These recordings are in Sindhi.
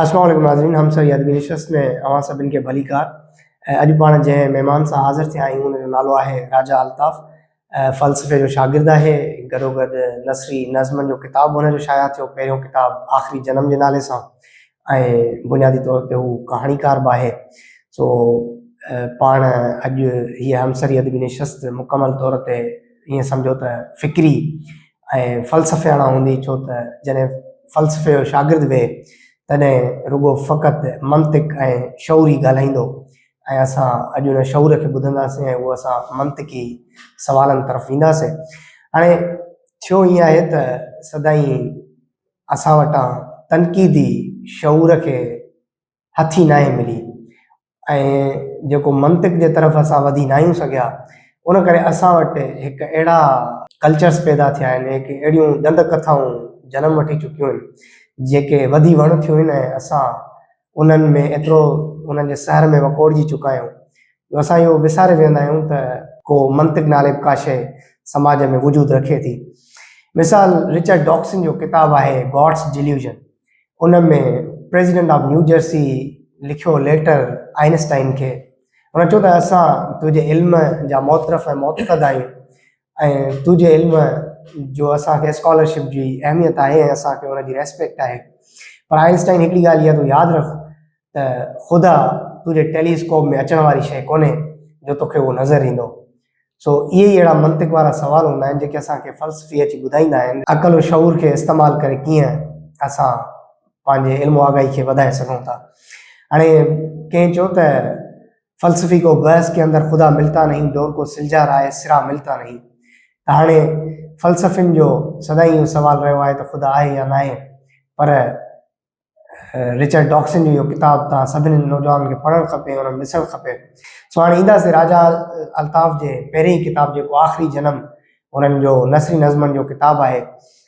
السلام عليڪم ناظرين هم سر يادگيري شخص ۾ اوهان سڀن کي ڀليڪار ۽ اڄ پاڻ جنهن مهمان سان حاضر ٿيا آهيون ان جو نالو آهي راجا الطاف فلسفي جو شاگرد آهي گڏو گڏ نثري نظمن جو ڪتاب هن جو شايع ٿيو پهريون ڪتاب آخري جنم جي نالي سان ۽ بنيادي طور تي هو ڪهاڻيڪار به آهي سو پاڻ اڄ هيء همسري ادبي نشست مڪمل طور تي ائين سمجهو ته فڪري ۽ فلسفياڻا هوندي ڇو ته جڏهن فلسفي جو شاگرد وي تڏهن رڳو فقط منطق ۽ شعور ئي ڳالهائيندو ۽ اسان اڄ ان شعور کي ٻڌنداسين ۽ اهو اسان منطقي سوالن طرف وينداسين هاڻي ٿيو ائين آهي ته سدائين اسان وٽان تنقيدي شعور کي هٿي ناهي ملي ۽ جيڪو منطق جي طرف اسان وڌي ناهيون سگهيا ان ڪري اسان وٽ هڪ اهڙا ڪلچرس پيدا ٿيا آهن هڪ اهڙيون ڏند ڪٿائون جنم وٺي چڪيون آهن جيڪي وڌي وڻ ٿيون آهن ۽ اسان انهن ۾ ايترو انهن جي سحر ۾ وڪوڙجي چڪا آهيون جو اسان اهو وساري ويهندا آهيون ته ڪو منطق نالي به ڪا شيء سماج ۾ وجود رکي ٿي. مثال رچرڊ ڊاڪسن جو ڪتاب آهي God's Delusion ان ۾ پريزيڊنٽ آف نيو جرسي لکيو ليٽر آئنسٽائن کي هن چيو ته اسان تنهنجي علم جا معترف ۽ معتقد آهيون ۽ تنهنجي علم جو اسان کي اسڪالرشپ جي اهميت آهي ۽ اسان کي ان جي ريسپيڪٽ آهي پر آئنسٽائن هڪڙي ڳالهه اها تون ياد رک ته خدا تنهنجي ٽيليسڪوپ ۾ اچڻ واري شيء ڪونهي جو توکي اهو نظر ايندو سو اهي ئي اهڙا منطق وارا سوال هوندا آهن جيڪي اسان کي فلسفي اچي ٻڌائيندا آهن عقل و شعور کي استعمال ڪري ڪيئن اسان پنهنجي علم و آگاهي کي وڌائي سگهون ٿا هاڻي ڪنهن چيو ته فلسفي ڪو بحث ڪي اندر خدا ملتا نهين دور ڪو سلجها رائي سرا ملتا نهين ته هاڻي فلسفين جو سدائين اهو سوال رهيو آهي ته خدا آهي يا ناهي پر رچرڊ ڊاڪسن جو اهو ڪتاب تان سڀني نوجوانن کي پڙهڻ کپي انهن ڏسڻ کپي سو هاڻي اينداسي راجا الطاف جي پهرين ڪتاب جيڪو آخري جنم انهن جو نثري نظمن جو ڪتاب آهي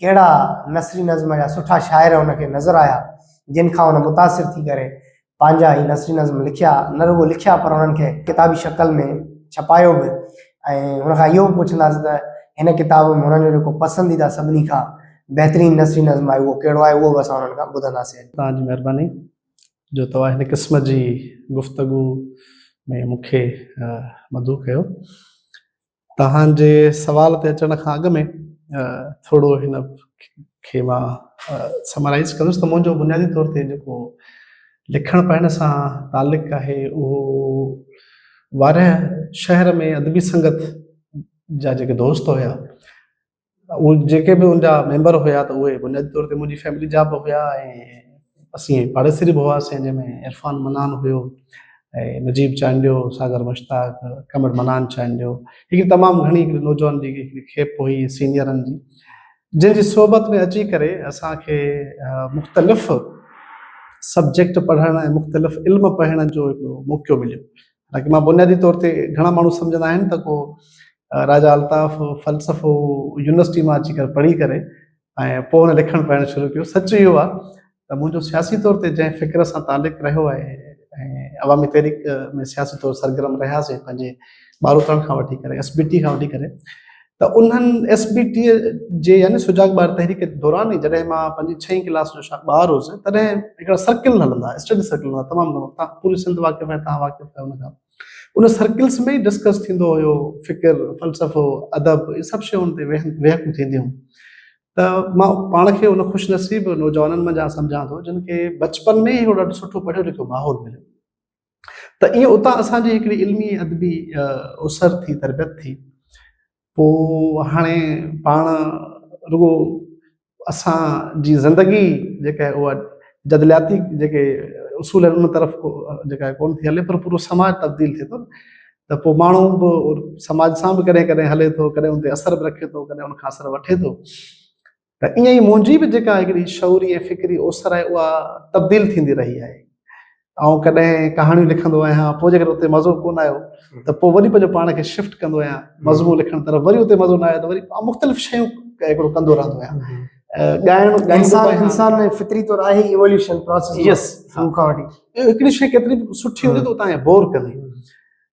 ڪهڙا نثري نظم يا سٺا شاعر هن کي نظر آيا، جن کان هن متاثر ٿي ڪري پنهنجا هي نثري نظم لکيا، نه رڳو لکيا پر انهن کي ڪتابي شڪل ۾ ڇپايو به ۽ هن کان اهو به پڇنداسين ته هن ڪتاب ۾ هنن جو جيڪو پسنديده سڀني کان بهترين نثري نظم آهي اهو ڪهڙو آهي اهو به اسان هنن کان ٻڌنداسين اڄ. توهان جي مهرباني جو توهان هن قسم جي گفتگو ۾ مون کي مدعو ڪيو. توهان جي سوال تي اچڻ کان اڳ ۾ ٿورو هن کي مان سمرائيز ڪندس ته منهنجو بنيادي طور تي جيڪو لکڻ پڙهڻ سان تعلق آهي اهو وارهه شهر ۾ ادبي سنگت جا جيڪي دوست هيا اهي جيڪي به ان جا ميمبر هيا ته اهي بنيادي طور تي منهنجي فيملي جا به هيا ۽ اسين پاڙيسري به هئاسين جنهن ۾ عرفان منان هيو ۽ نجيب چانڊيو ساگر مشتاق ڪمر منان چانڊيو هڪڙي تمام گهڻي هڪڙي نوجوان جي هڪڙي کيپ هئي سينيئرن جي جن جي صحبت ۾ اچي ڪري اسان کي مختلف سبجيڪٽ پڙهڻ ۽ مختلف علم پڙهڻ جو هڪڙو موقعو مليو حالانڪه مان بنيادي طور تي گهڻا ماڻهو سمجهندا آهن ته ڪو راجا الطاف فلسفو يونيورسٽي مان اچي ڪري پڙهي ڪري ۽ پوء هن لکڻ پڙهڻ شروع ڪيو سچ اهو آهي ته منهنجو سياسي طور تي جنهن فڪر سان تعلق رهيو آهي ۽ عوامي تحريڪ ۾ سياسي طور سرگرم رهياسي پنهنجي ٻاروتڻ کان وٺي ڪري ايس بي ٽي کان وٺي ڪري ته انهن ايس بي ٽي جي يعني سجاڳ ٻار تحريڪ دوران ئي جڏهن مان پنجين ڇهين ڪلاس جو شايد ٻار هوس تڏهن هڪڙا سرڪل هلندا اسٽڊي سرڪل هلندا تمام گهڻو تان پوري سنڌ واقف آهي تان واقف آهي ان کان ان سرڪلس ۾ ئي ڊسڪس ٿيندو هيو فڪر فلسفو ادب اهي سڀ شيون ان تي ويهڪون ٿينديون ته مان پاڻ کي ان خوش نصيب نوجوانن منجهان سمجهان ٿو جن کي بچپن ۾ ئي هڪڙو ڏاڍو سٺو پڙهيو لکيو ماحول مليو ته ائين اتان اسان جي هڪڙي علمي ادبي اسر ٿي تربيت ٿي پوء هاڻي پاڻ رڳو اسان جي زندگي جيڪا آهي اها جدلياتي جيڪي اصول آهن ان طرف جيڪا آهي ڪونه ٿي هلي پر پورو سماج تبديل ٿئي ٿو ته پوء ماڻهو به سماج سان به ڪڏهن ڪڏهن هلي ٿو ڪڏهن ان تي اثر به رکي ٿو ڪڏهن ان کان اثر وٺي ٿو ته ائين ئي منهنجي به جيڪا هڪڙي شعوري ۽ فڪري اوسر آهي اها تبديل ٿيندي رهي آهي. آئون ڪڏهن ڪهاڻيون لکندو آهيان پوء جيڪڏهن اتي مزو ڪونه آيو ته پوء وري پنهنجو پاڻ کي شفٽ ڪندو آهيان مضمون لکڻ طرف وري اتي مزو نه آيو ته وري مختلف شيون هڪڙو ڪندو رهندو آهيان. ڳائڻ انسان ۾ فطري طور آهي ايووليوشن پروسيس يس هڪڙي شيء ڪيتري به سٺي هوندي ته تون کي بور ڪندي.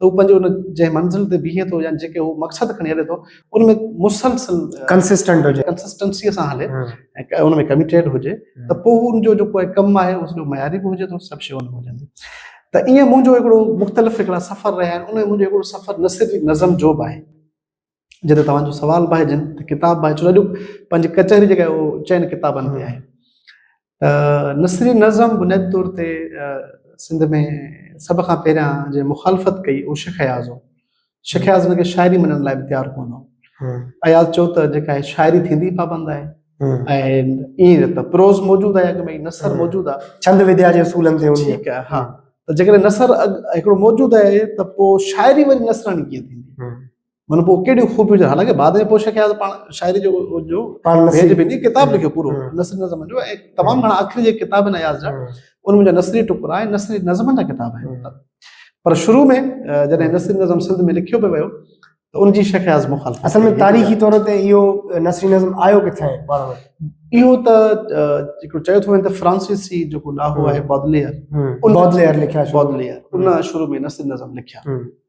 ته هو پنهنجي ان جنهن منزل تي بيهي ٿو يا جيڪي هو مقصد کڻي هلي ٿو ان ۾ مسلسل ڪنسسٽنٽ هجي ڪنسسٽنسيء سان هلي ۽ ان ۾ ڪميٽيڊ هجي ته پوء ان جو جيڪو ڪم آهي اهو سڄو معياري به هجي ٿو سڀ شيون به هجن ٿيون ته ايئن منهنجو هڪڙو مختلف هڪڙا سفر رهيا آهن ان ۾ منهنجو هڪڙو سفر نه صرف نظم جو به آهي جڏهن توهان جو سوال به آهي جن ته ڪتاب به آهي ڇو جو پنهنجي ڪچهري جيڪا اهو چئن ڪتابن تي آهي ته نثري نظم بنيادي طور تي سنڌ ۾ سڀ کان پهريان جنهن مخالفت ڪئي اهو شيخ اياز هو شيخ اياز هن کي شاعري مڃڻ لاء به تيار ڪونه هو اياز چيو ته جيڪا هي شاعري ٿيندي پابند آهي ۽ ائين ته پروز موجود آهي اڳ ۾ نثر موجود آهي ڇند وديا جي اصولن تي هوندي ٺيڪ آهي ها ته جيڪڏهن نثر هڪڙو موجود آهي ته پوء شاعري وري نثراڻي ڪيئن ٿيندي مطلب پوء ڪهڙيون خوبيون هجن حالانڪ بعد ۾ پوء شڪيا پاڻ شاعري جو جو پاڻ نسل به ني ڪتاب لکيو پورو نسل نظم جو ۽ تمام گھڻا آخري جي ڪتاب آهن اياز جا ان منهنجا نسلي ٽڪرا آهن نسلي نظمن جا ڪتاب آهن پر شروع ۾ جڏهن نسلي نظم سنڌ ۾ لکيو پيو ويو ته ان جي شيخ اياز مخالف اصل ۾ تاريخي طور تي اهو نسلي نظم آيو ڪٿان آهي پاڻ اهو ته هڪڙو چيو ٿو وڃي ته فرانسيسي جيڪو لاهو آهي بودليئر ان بودليئر لکيا بودليئر ان شروع ۾ نسلي نظم لکيا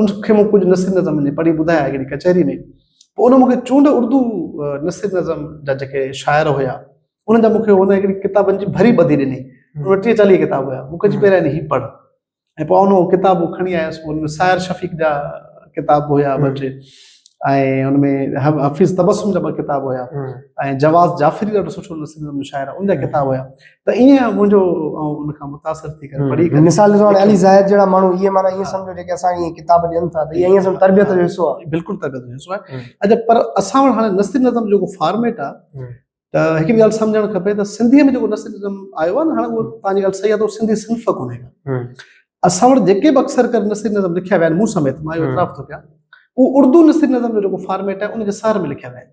ان کي مون ڪجهه نثري نظم جي پڙهي ٻڌايا هڪڙي ڪچهري ۾ پوء ان مونکي چونڊ اردو نثري نظم جا جيڪي شاعر هيا انهن جا مونکي هن هڪڙي ڪتابن جي ڀري ٻڌي ڏني ان ٽيهه چاليهه ڪتاب هيا مونکي چي پهريان هي پڙهه ۽ پوء ان ڪتاب کڻي آيس ان ۾ سائر شفيق جا ڪتاب هيا ٻه ٽي ۽ ان ۾ حفيظ تبسم جا ٻه ڪتاب هيا ۽ جواز جعفري ڏاڍو سٺو نثري نظم جو شاعر هو ان جا ڪتاب هيا ته ايئن منهنجو آئون ان کان متاثر ٿي ڪري پڙهي ڪري مثال طور علي زاهد جهڙا ماڻهو ايئن معنی ايئن سمجھو جيڪي اسان کي ڪتاب ڏين ٿا ته ايئن ايئن سمجھو تربيت جو حصو آهي بلڪل تربيت جو حصو آهي اڄ پر اسان وٽ هاڻي نثر نظم جيڪو فارميٽ آهي ته هڪ ڳالهه سمجھڻ کپي ته سنڌي ۾ جيڪو نثر نظم آيو آهي نه هاڻي اهو تان جي ڳالهه صحيح آهي ته سنڌي صنف ڪونهي ڪا اسان وٽ جيڪي به اڪثر ڪر نثر نظم لکيا ويا آهن مون سميت مان اهو اعتراف ٿو ڪيان اهو اردو نثر نظم جو جيڪو فارميٽ آهي ان جي سر ۾ لکيا ويا آهن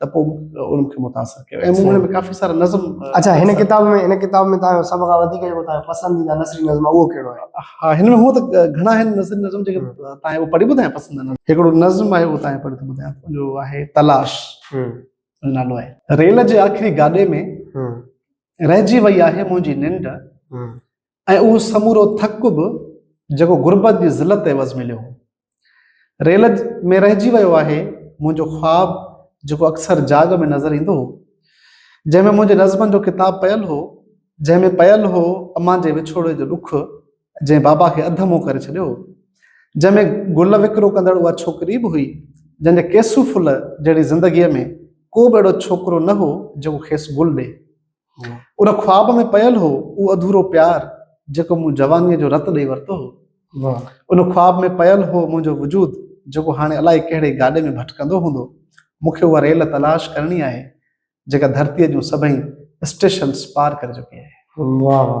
ته پوء ان کي متاثر ڪيو ۽ مون ۾ ڪافي سارا نظم اچھا هن کتاب ۾ هن کتاب ۾ تان سڀ کان وڌيڪ جو تان پسنديده نثري نظم اهو ڪهڙو آهي ها هن ۾ هو ته گهڻا هن نثري نظم جيڪي تان هو پڙهي ٻڌايا پسند نظم هڪڙو نظم آهي هو تان پڙهي ٻڌايا جو آهي تلاش نالو آهي ريل جي آخري گاڏي ۾ رهجي وئي آهي منهنجي ننڊ ۽ اهو سمورو ٿڪ به جيڪو غربت جي ذلت عيوض مليو هو. ريل ۾ رهجي ويو آهي منهنجو خواب جيڪو اڪثر جاڳ ۾ نظر ايندو هو. جنهن ۾ منهنجي نظمن جو ڪتاب پيل هو. جنهن ۾ پيل هو امان جي وڇوڙي جو ڏک جنهن بابا کي اڌ منهن ڪري ڇڏيو هو. جنهن ۾ گل وڪرو ڪندڙ اها ڇوڪري به هئي جنهن جي ڪيسو ڦل جهڙي زندگيء ۾ ڪو به اهڙو ڇوڪرو نه هو جيڪو کيس گل ڏي. ان خواب ۾ پيل هو اهو اڌورو پيار جيڪو مون جوانيء جو رت ڏئي ورتو هو. ان خواب ۾ پيل هو منهنجو وجود جيڪو هاڻي الائي ڪهڙي گاڏي ۾ ڀٽڪندو هوندو. مون کي اها ريل تلاش ڪرڻي آهي جيڪا ڌرتيء جون سڀئي اسٽيشنز پار ڪري چڪي آهي. واهه واهه.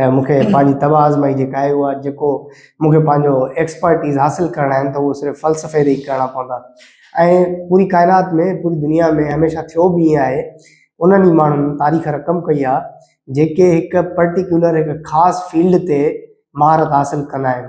۽ مون کي پنهنجي طبع آزمائي جي ڪاهي هئا جيڪو مون کي پنهنجو ايڪسپرٽيز حاصل ڪرڻا آهن ته اهو صرف فلسفي تي ئي ڪرڻا پوندا ۽ پوري ڪائنات ۾ پوري دنيا ۾ هميشه ٿيو به ائين آهي انهن ئي ماڻهن تاريخ رقم ڪئي آهي جيڪي هڪ پرٽيڪيولر هڪ خاص فيلڊ تي مهارت حاصل ڪندا آهن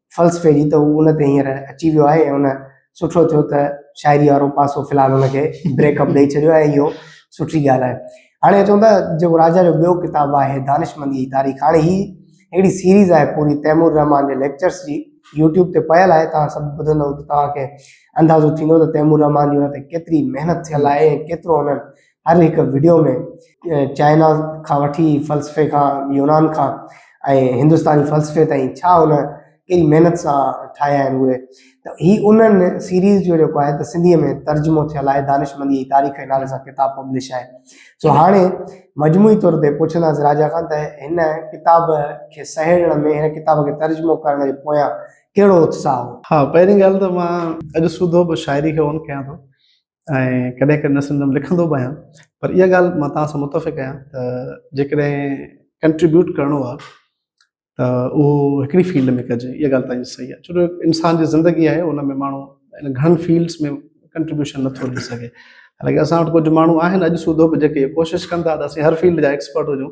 فلسفي جي ته هو ان تي هينئر اچي ويو آهي ۽ ان سٺو ٿيو ته شاعري وارو پاسو في الحال ان کي بريڪ اپ ڏئي ڇڏيو آهي اهو سٺي ڳالهه آهي هاڻي چون ٿا جيڪو راجا جو ٻيو ڪتاب آهي دانشمندي جي تاريخ هاڻي هي هڪڙي سيريز آهي پوري تيمور رحمان جي ليڪچرس جي يوٽيوب تي پيل آهي توهان سڀ ٻڌندو ته توهان کي اندازو ٿيندو ته تيمور رحمان جي ان تي ڪيتري محنت ٿيل آهي ۽ ڪيترو انهن هر هڪ وڊيو ۾ چائنا کان وٺي فلسفي کان يونان کان ۽ هندستاني فلسفي تائين ڇا ان ڪهڙي محنت سان ٺاهيا آهن اهي ته هي انهن سيريز جو جيڪو آهي ته سنڌيء ۾ ترجمو ٿيل آهي دانشمندي جي تاريخ جي نالي سان ڪتاب پبلش آهي سو هاڻي مجموعي طور تي پڇنداسين راجا کان ته هن ڪتاب کي سهيڙڻ ۾ هن ڪتاب کي ترجمو ڪرڻ جي پويان ڪهڙو اتساهه هو ها پهرين ڳالهه ته مان اڄ سوڌو به شاعري کي اون ڪيان ٿو ۽ ڪڏهن ڪڏهن نه سمجهندم لکندو به آهيان پر اها ڳالهه مان توهان سان متفق آهيان ته جيڪڏهن ڪنٽريبيوٽ ڪرڻو آهي ته اهو هڪڙي فيلڊ ۾ ڪجي اها ڳالهه تنهنجي صحيح آهي ڇو جو انسان جي زندگي آهي ان ۾ ماڻهو گهڻن فيلڊس ۾ ڪنٽريبيوشن نٿو ڏئي سگهي حالانڪه اسان وٽ ڪجهه ماڻهو آهن اڄ سوڌو به جيڪي ڪوشش ڪن ٿا ته اسين هر فيلڊ جا ايڪسپرٽ هجون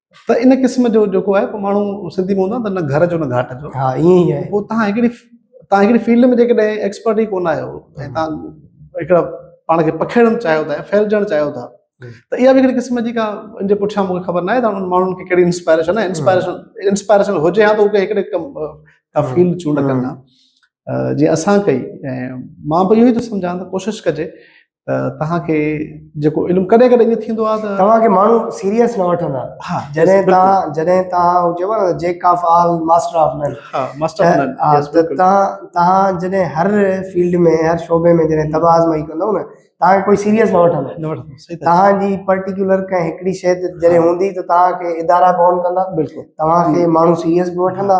ته ان قسم جو جيڪو آهي ماڻهو سنڌي ۾ هوندا نه گهر جو نه گهاٽ جو ها ائين ئي آهي پوء تهان هڪڙي تهان هڪڙي فيلڊ ۾ جيڪڏهن ايڪسپرٽ ئي ڪونه آهيو ۽ تهان هڪڙا پاڻ کي پکيڙڻ چاهيو ٿا ڦهلجڻ چاهيو ٿا ته اها به هڪڙي قسم جي کا ان جي پٺيان مونکي خبر ناهي ته انهن ماڻهن کي ڪهڙي انسپائريشن آهي انسپائريشن انسپائريشن هجي ها ته هو هڪڙي ڪا فيلڊ چونڊ ڪن ها جي اسان ڪئي مان به اهو ئي ٿو سمجهان ته ڪوشش ڪجي ته توهان کي جيڪو علم ڪڏهن ڪڏهن ائين ٿيندو آهي ته توهان کي ماڻهو سيريس نه وٺندا ها جڏهن توهان جڏهن توهان هو چئبو آهي نه jack of all master of none ها ماستر آف نن توهان توهان جڏهن هر فيلڊ ۾ هر شعبي ۾ جڏهن تباهه آزمائي ڪندو نه توهان کي ڪوئي سيريس نه وٺندو نه وٺندو توهان جي پرٽيڪولر ڪنهن هڪڙي شيء تي جڏهن هوندي ته توهان کي ادارا ڪون ڪندا بلڪل توهان کي ماڻهو سيريس به وٺندا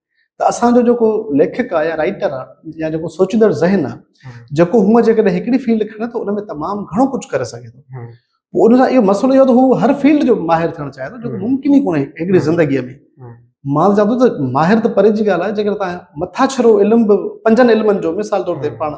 ته اسان جو جيڪو ليکڪ آهي يا رائيٽر آهي يا جيڪو سوچيندڙ ذهن آهي جيڪو هونء جيڪڏهن هڪڙي فيلڊ کڻي ته ان ۾ تمام گهڻو ڪجهه ڪري سگهي ٿو پوء ان سان اهو مسئلو اهو ته هو هر فيلڊ جو ماهر ٿيڻ چاهي ٿو جيڪو ممڪن ئي ڪونهي هڪڙي زندگيء ۾ مان چوان ٿو ته ماهر ته پري جي ڳالهه آهي جيڪڏهن تان مٿاڇرو علم به پنجن علمن جو مثال طور تي پاڻ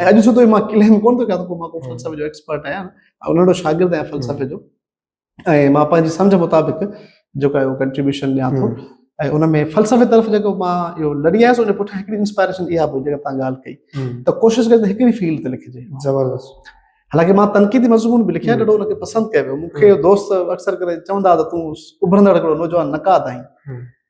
۽ اڄ سڌو مان ڪليم ڪونه ٿو ڪيان ته مان ڪو فلسفي جو ايڪسپرٽ آهيان ۽ ننڍو شاگرد آهيان فلسفي جو ۽ مان پنهنجي سمجھ مطابق جيڪو اهو ڪنٽريبيوشن ڏيان ٿو ۽ ان ۾ فلسفي طرف جيڪو مان اهو لڏي آيس ان پٺيان هڪڙي انسپائريشن اها به جيڪا تان ڳالهه ڪئي ته ڪوشش ڪجي ته هڪڙي فيلڊ تي لکجي زبردست حالانڪه مان تنقيدي مضمون به لکيا ڏاڍو ان کي پسند ڪيو ويو مون کي دوست اڪثر ڪري چوندا ته تون اڀرندڙ هڪڙو نوجوان نقاد آهين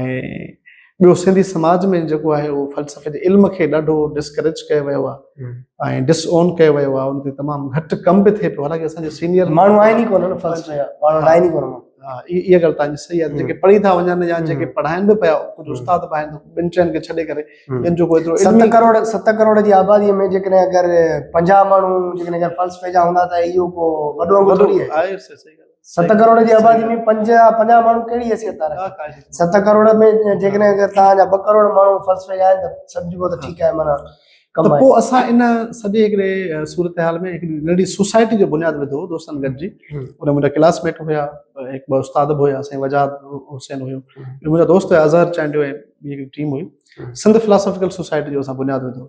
۽ ٻيو سنڌي سماج ۾ جيڪو آهي اهو فلسفي جي علم کي ڏاڍو ڊسڪريج ڪيو ويو آهي ۽ ڊس اون ڪيو ويو آهي ان تي تمام گهٽ ڪم به ٿئي پيو حالانڪه اسان جي سينيئر ماڻهو آهن ئي ڪونه فلسفي جا ماڻهو آهن ئي ڪونه ها اها ڳالهه تانجي صحيح آهي جيڪي پڙهي ٿا وڃن يا جيڪي پڙهائن به پيا ڪجهه استاد به آهن ٻن چئن کي ڇڏي ڪري ٻين جو ڪوئي ست ڪروڙ ست ڪروڙ جي آبادي ۾ جيڪڏهن اگر پنجاهه ماڻهو جيڪڏهن اگر فلسفي جا هوندا ته اهو ڪو وڏو وڏو آهي صحيح ست ڪروڙ جي آبادي ۾ پنج يا پنجاهه ماڻهو ڪهڙي حيثيت ٿا رکن ست ڪروڙ ۾ جيڪڏهن اگر توهان جا ٻه ڪروڙ ماڻهو فلسفي جا آهن ته سمجهبو ته ٺيڪ آهي معنيٰ ته پوء اسان ان سڄي هڪڙي صورتحال ۾ هڪڙي ننڍي سوسائٽي جو بنياد وڌو هو دوستن گڏجي ان منهنجا ڪلاس ميٽ هيا هڪ ٻه استاد به هيا سائين وجاهت حسين هيو منهنجا دوست هيا اظهر چانڊيو ۽ ٻي هڪڙي ٽيم هئي سنڌ فلاسافيڪل سوسائٽي جو اسان بنياد وڌو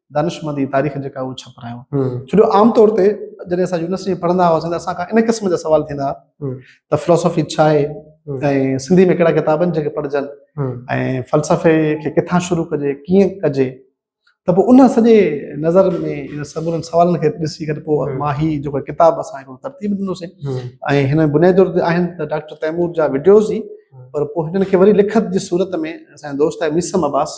دانشمند جي تاريخ جيڪا اهو ڇپرايو ڇو جو عام طور تي جڏهن اسان يونيورسٽي پڙهندا هئاسين ته اسان کان ان قسم جا سوال ٿيندا هئا ته فلاسافي ڇا آهي ۽ سنڌي ۾ ڪهڙا ڪتاب آهن جيڪي پڙهجن ۽ فلسفي کي ڪٿان شروع ڪجي ڪيئن ڪجي ته پوء ان سڄي نظر ۾ ان سمورن سوالن کي ڏسي ڪري پوء ما هي جو ڪتاب اسان هڪڙو ترتيب ڏنوسي ۽ هن بنياد طور تي آهن ته ڊاڪٽر تيمور جا وڊيوز ئي پر پوء هنن کي وري لکت جي صورت ۾ اسان دوست آهي ميسم عباس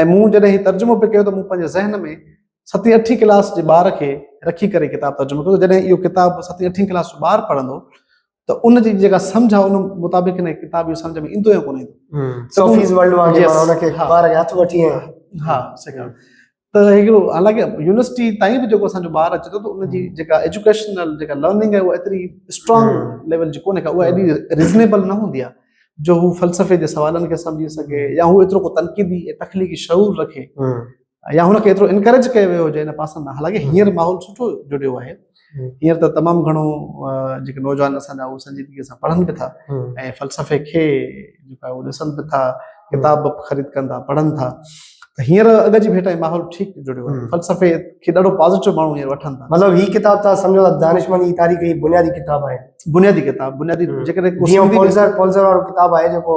۽ مون جڏهن هي ترجمو پي ڪيو ته مون پنهنجي ذهن ۾ ستين اٺين ڪلاس جي ٻار کي رکي ڪري ڪتاب ترجمو ڪيو جڏهن اهو ڪتاب ستين اٺين ڪلاس جو ٻار پڙهندو ته ان جي جيڪا سمجھ آ ان مطابق هن ڪتاب جو سمجھ ۾ ايندو يا ڪونه ايندو سوفيز ورلڊ واري ماڻهن کي ٻار کي هٿ وٺي ها سکڻ ته هڪڙو حالانڪه يونيورسٽي تائين به جيڪو اسان جو ٻار اچي ٿو ته ان جي جيڪا ايجوڪيشنل جيڪا لرننگ آهي اها ايتري اسٽرانگ ليول جي ڪونهي ڪا اها ايڏي ريزنيبل نه هوندي آهي جو هو فلسفي جي سوالن کي سمجهي سگهي يا هو ايترو ڪو تنقيدي ۽ تخليقي شعور رکي يا هن کي ايترو انڪريج ڪيو ويو هجي ان پاسن ڏانهن حالانڪه هينئر ماحول سٺو جڙيو آهي هينئر ته تمام گهڻو جيڪي نوجوان اسان جا اهي سنجيدگيء سان پڙهن به ٿا ۽ فلسفي کي جيڪو آهي اهو ڏسن به ٿا، ڪتاب به خريد ڪن ٿا، پڙهن ٿا. ته هينئر اڳ جي ڀيٽ ۽ ماحول ٺيڪ جڙيو آهي. فلسفي کي ڏاڍو پازيٽو ماڻهو هينئر وٺن ٿا. مطلب هي ڪتاب توهان سمجهو ته دانشمنديء جي تاريخ جي بنيادي ڪتاب آهي. بنيادي ڪتاب، بنيادي جيڪڏهن ڪو سنڌي ۾ جيئن پولزر، پولزر وارو ڪتاب آهي جيڪو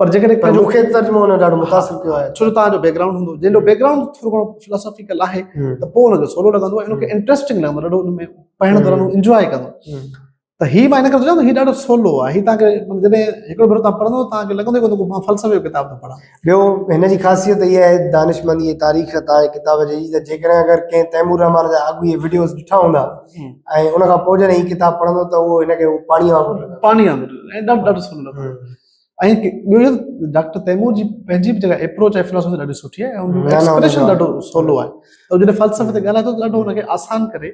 پر جيڪڏهن پر پنهنجو مون کي ترجمو ان ڏاڍو متاثر ڪيو آهي ڇو جو تهان جو بيڪ گرائونڊ هوندو جنهن جو بيڪ گرائونڊ ٿورو گهڻو فلاسافيڪل آهي هم، ته پوء ان جو سولو لڳندو ۽ ان کي انٽرسٽنگ لڳندو ڏاڍو ان ۾ پڙهڻ دوران هم. انجوائي ڪندو هم. ته هي مان هن ڪري سوچان ٿو هي ڏاڍو سولو آهي هي تهان کي مطلب جڏهن هڪڙو ڀيرو تهان پڙهندو تهان کي لڳندو ئي ڪونه ته مان فلسفي جو ڪتاب ٿو پڙهان ٻيو هن جي خاصيت اها آهي دانشمندي ۽ تاريخ تان هي ڪتاب جي ته جيڪڏهن اگر ڪنهن تيمور الرحمان جا اڳوڻي وڊيوز ڏٺا هوندا ۽ ان کان پوء جڏهن هي ڪتاب پڙهندو ته اهو هن کي اهو پاڻي وانگر لڳندو پاڻي وانگر ۽ ڏاڍو ڏاڍو سولو لڳندو ۽ ٻيو ڊاڪٽر تيمور جي پنهنجي به جيڪا اپروچ آهي فلسفي ڏاڍي سٺي آهي ۽ ايڪسپريشن ڏاڍو سولو آهي ۽ جڏهن فلسفي تي ڳالهائي ٿو ته ڏاڍو هنکي آسان ڪري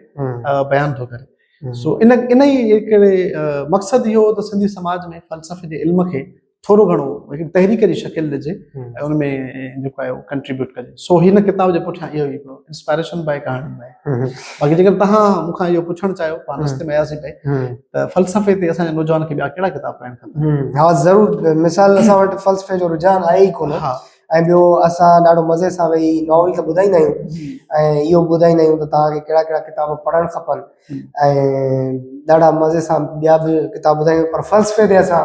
بيان ٿو ڪري سو ان ان ئي هڪڙي مقصد اهو هو ته سنڌي سماج ۾ فلسفي جي علم کي ٿورو گهڻو هڪ تحريڪ جي شڪل ڏجي ۽ ان ۾ جيڪو آهي ڪنٽريبيوٽ ڪجي سو هن ڪتاب جي پٺيان اهو هڪڙو انسپائريشن به آهي ڪهاڻي به آهي باقي جيڪڏهن توهان مون کان اهو پڇڻ چاهيو پاڻ رستي ۾ اياسين پئي ته فلسفي تي اسان جي نوجوان کي ٻيا ڪهڙا ڪتاب پڙهڻ کپن ها ضرور مثال اسان وٽ فلسفي جو رجحان آهي ئي ڪونه ۽ ٻيو اسان ڏاڍو مزي سان ويهي ناول ته ٻڌائيندا آهيون ۽ اهو به ٻڌائيندا آهيون ته توهان کي ڪهڙا ڪهڙا ڪتاب پڙهڻ کپن ۽ ڏاڍا مزي سان ٻيا به ڪتاب ٻڌائيندا آهيون پر فلسفي تي اسان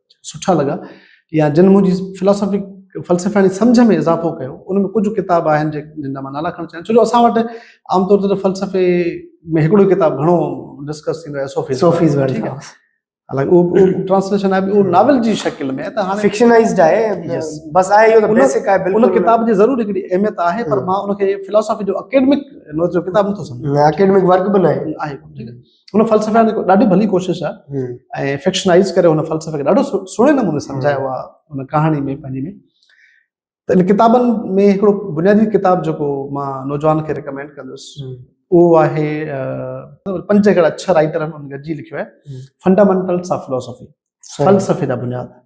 سٺا لڳا يا جن منهنجي فلاسافي فلسفياڻي سمجهه ۾ اضافو ڪيو ان ۾ ڪجهه ڪتاب آهن جن جا مان نالا کڻڻ چاهيان ٿو جو اسان وٽ عام طور تي فلسفي ۾ هڪڙو ڪتاب گهڻو ڊسڪس ٿيندو آهي صوفيز صوفيز ورلڊ هائوس حالانڪه اهو ٽرانسليشن آهي اهو ناول جي شڪل ۾ ته هاڻي فڪشنائزڊ آهي بس آهي اهو ته بيسڪ آهي بلڪل ان ڪتاب جي ضرور هڪڙي اهميت آهي پر مان ان کي فلسفي جو اڪيڊمڪ نوٽ جو ڪتاب نٿو سمجهان اڪيڊمڪ ورڪ به نه آهي آهي ٺيڪ آهي هن فلسفي ۾ ڏاڍي ڀلي ڪوشش آهي ۽ فڪشنائز ڪري هن فلسفي کي ڏاڍو سهڻي نموني سمجهايو آهي هن ڪهاڻي ۾ پنهنجي ۾ ته ان ڪتابن ۾ هڪڙو بنيادي ڪتاب جيڪو مان نوجوان کي ريڪمينڊ ڪندس اهو آهي پنج هڪڙا اڇا رائٽر هن گڏجي لکيو آهي فنڊامنٽلس آف فلسفي فلسفي جا بنياد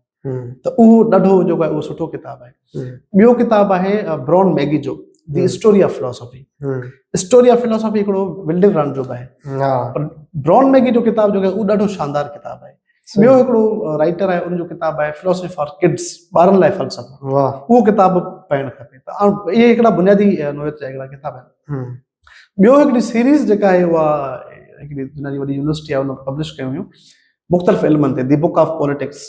ته اهو ڏاڍو جيڪو آهي اهو سٺو ڪتاب آهي ٻيو ڪتاب آهي برون ميگي جو the story of philosophy story of philosophy هڪڙو ولڊن رن جو به آهي برون ميگي جو ڪتاب جيڪو آهي اهو ڏاڍو شاندار ڪتاب آهي ٻيو هڪڙو رائٽر آهي ان جو ڪتاب آهي فلاسافي فار ڪڊس ٻارن لاء فلسفو اهو ڪتاب پڙهڻ کپي ته اهي هڪڙا بنيادي نوعيت جا هڪڙا ڪتاب آهن ٻيو هڪڙي سيريز جيڪا آهي اها هڪڙي دنيا جي وڏي يونيورسٽي آهي ان پبلش ڪيون هيون مختلف علمن تي the book of politics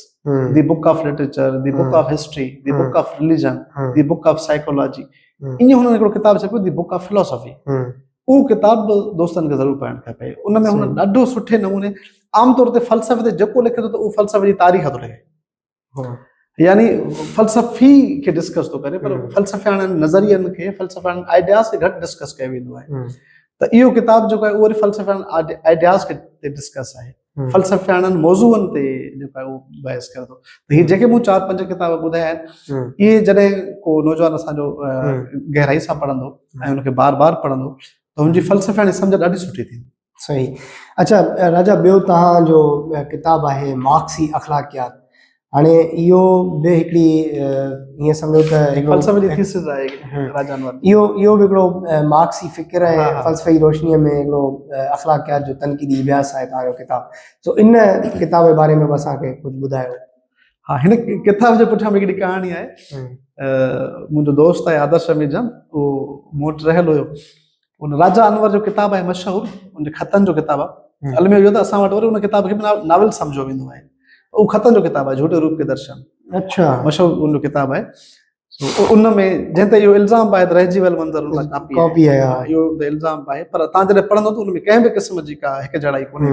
the book of literature the book of history the book of religion the book of psychology ائين هن هڪڙو ڪتاب ڇپيو دي بڪ آف فلاسافي اهو ڪتاب به دوستن کي ضرور پڙهڻ کپي ان ۾ هن ڏاڍو سٺي نموني عام طور تي فلسفي تي جيڪو لکي ٿو ته اهو فلسفي جي تاريخ ٿو لکي يعني فلسفي کي ڊسڪس ٿو ڪري پر فلسفياڻن نظرين کي فلسفياڻن آئيڊياز کي گهٽ ڊسڪس ڪيو ويندو آهي ته اهو ڪتاب جيڪو آهي اهو وري فلسفياڻن آئيڊياز کي تي ڊسڪس آهي فلسفياڻن موضوعن تي جيڪو اهو بحث ڪري ٿو ته هي جيڪي مون چار پنج ڪتاب ٻڌايا آهن اهي جڏهن ڪو نوجوان اسان جو گهرائي سان پڙهندو ۽ ان کي بار بار پڙهندو ته هن جي فلسفياڻي سمجھ ڏاڍي سٺي ٿيندي صحيح اچا راجا ٻيو تهان جو ڪتاب آهي مارڪسي اخلاقيات هاڻي اهو به هڪڙي ائين سمجھو ته فلسفي جي ٿيسز آهي راجا انور اهو اهو به هڪڙو مارڪسي فڪر ۽ فلسفي روشني ۾ هڪڙو اخلاقيات جو تنقيدي اڀياس آهي تهان جو ڪتاب سو ان ڪتاب جي باري ۾ به اسان کي ڪجهه ٻڌايو ها هن ڪتاب جي پٺيان به هڪڙي ڪهاڻي آهي منهنجو دوست آهي آدرش اميجم اهو موٽ رهيل هيو ان راجا انور جو ڪتاب آهي مشهور ان جي خطن جو ڪتاب آهي علمي اهو ته اسان وٽ وري ان ڪتاب کي به ناول سمجهيو ويندو آهي اهو خطن جو ڪتاب آهي جهوٽي روپ کي درشن اچھا مشهور ان جو ڪتاب آهي ان ۾ جنهن تي اهو الزام به آهي ته رهجي ويل منظر ان لاء ڪاپي آهي اهو الزام به آهي پر تان جڏهن پڙهندو ته ان ۾ ڪنهن به قسم جي ڪا هڪجهڙائي ڪونهي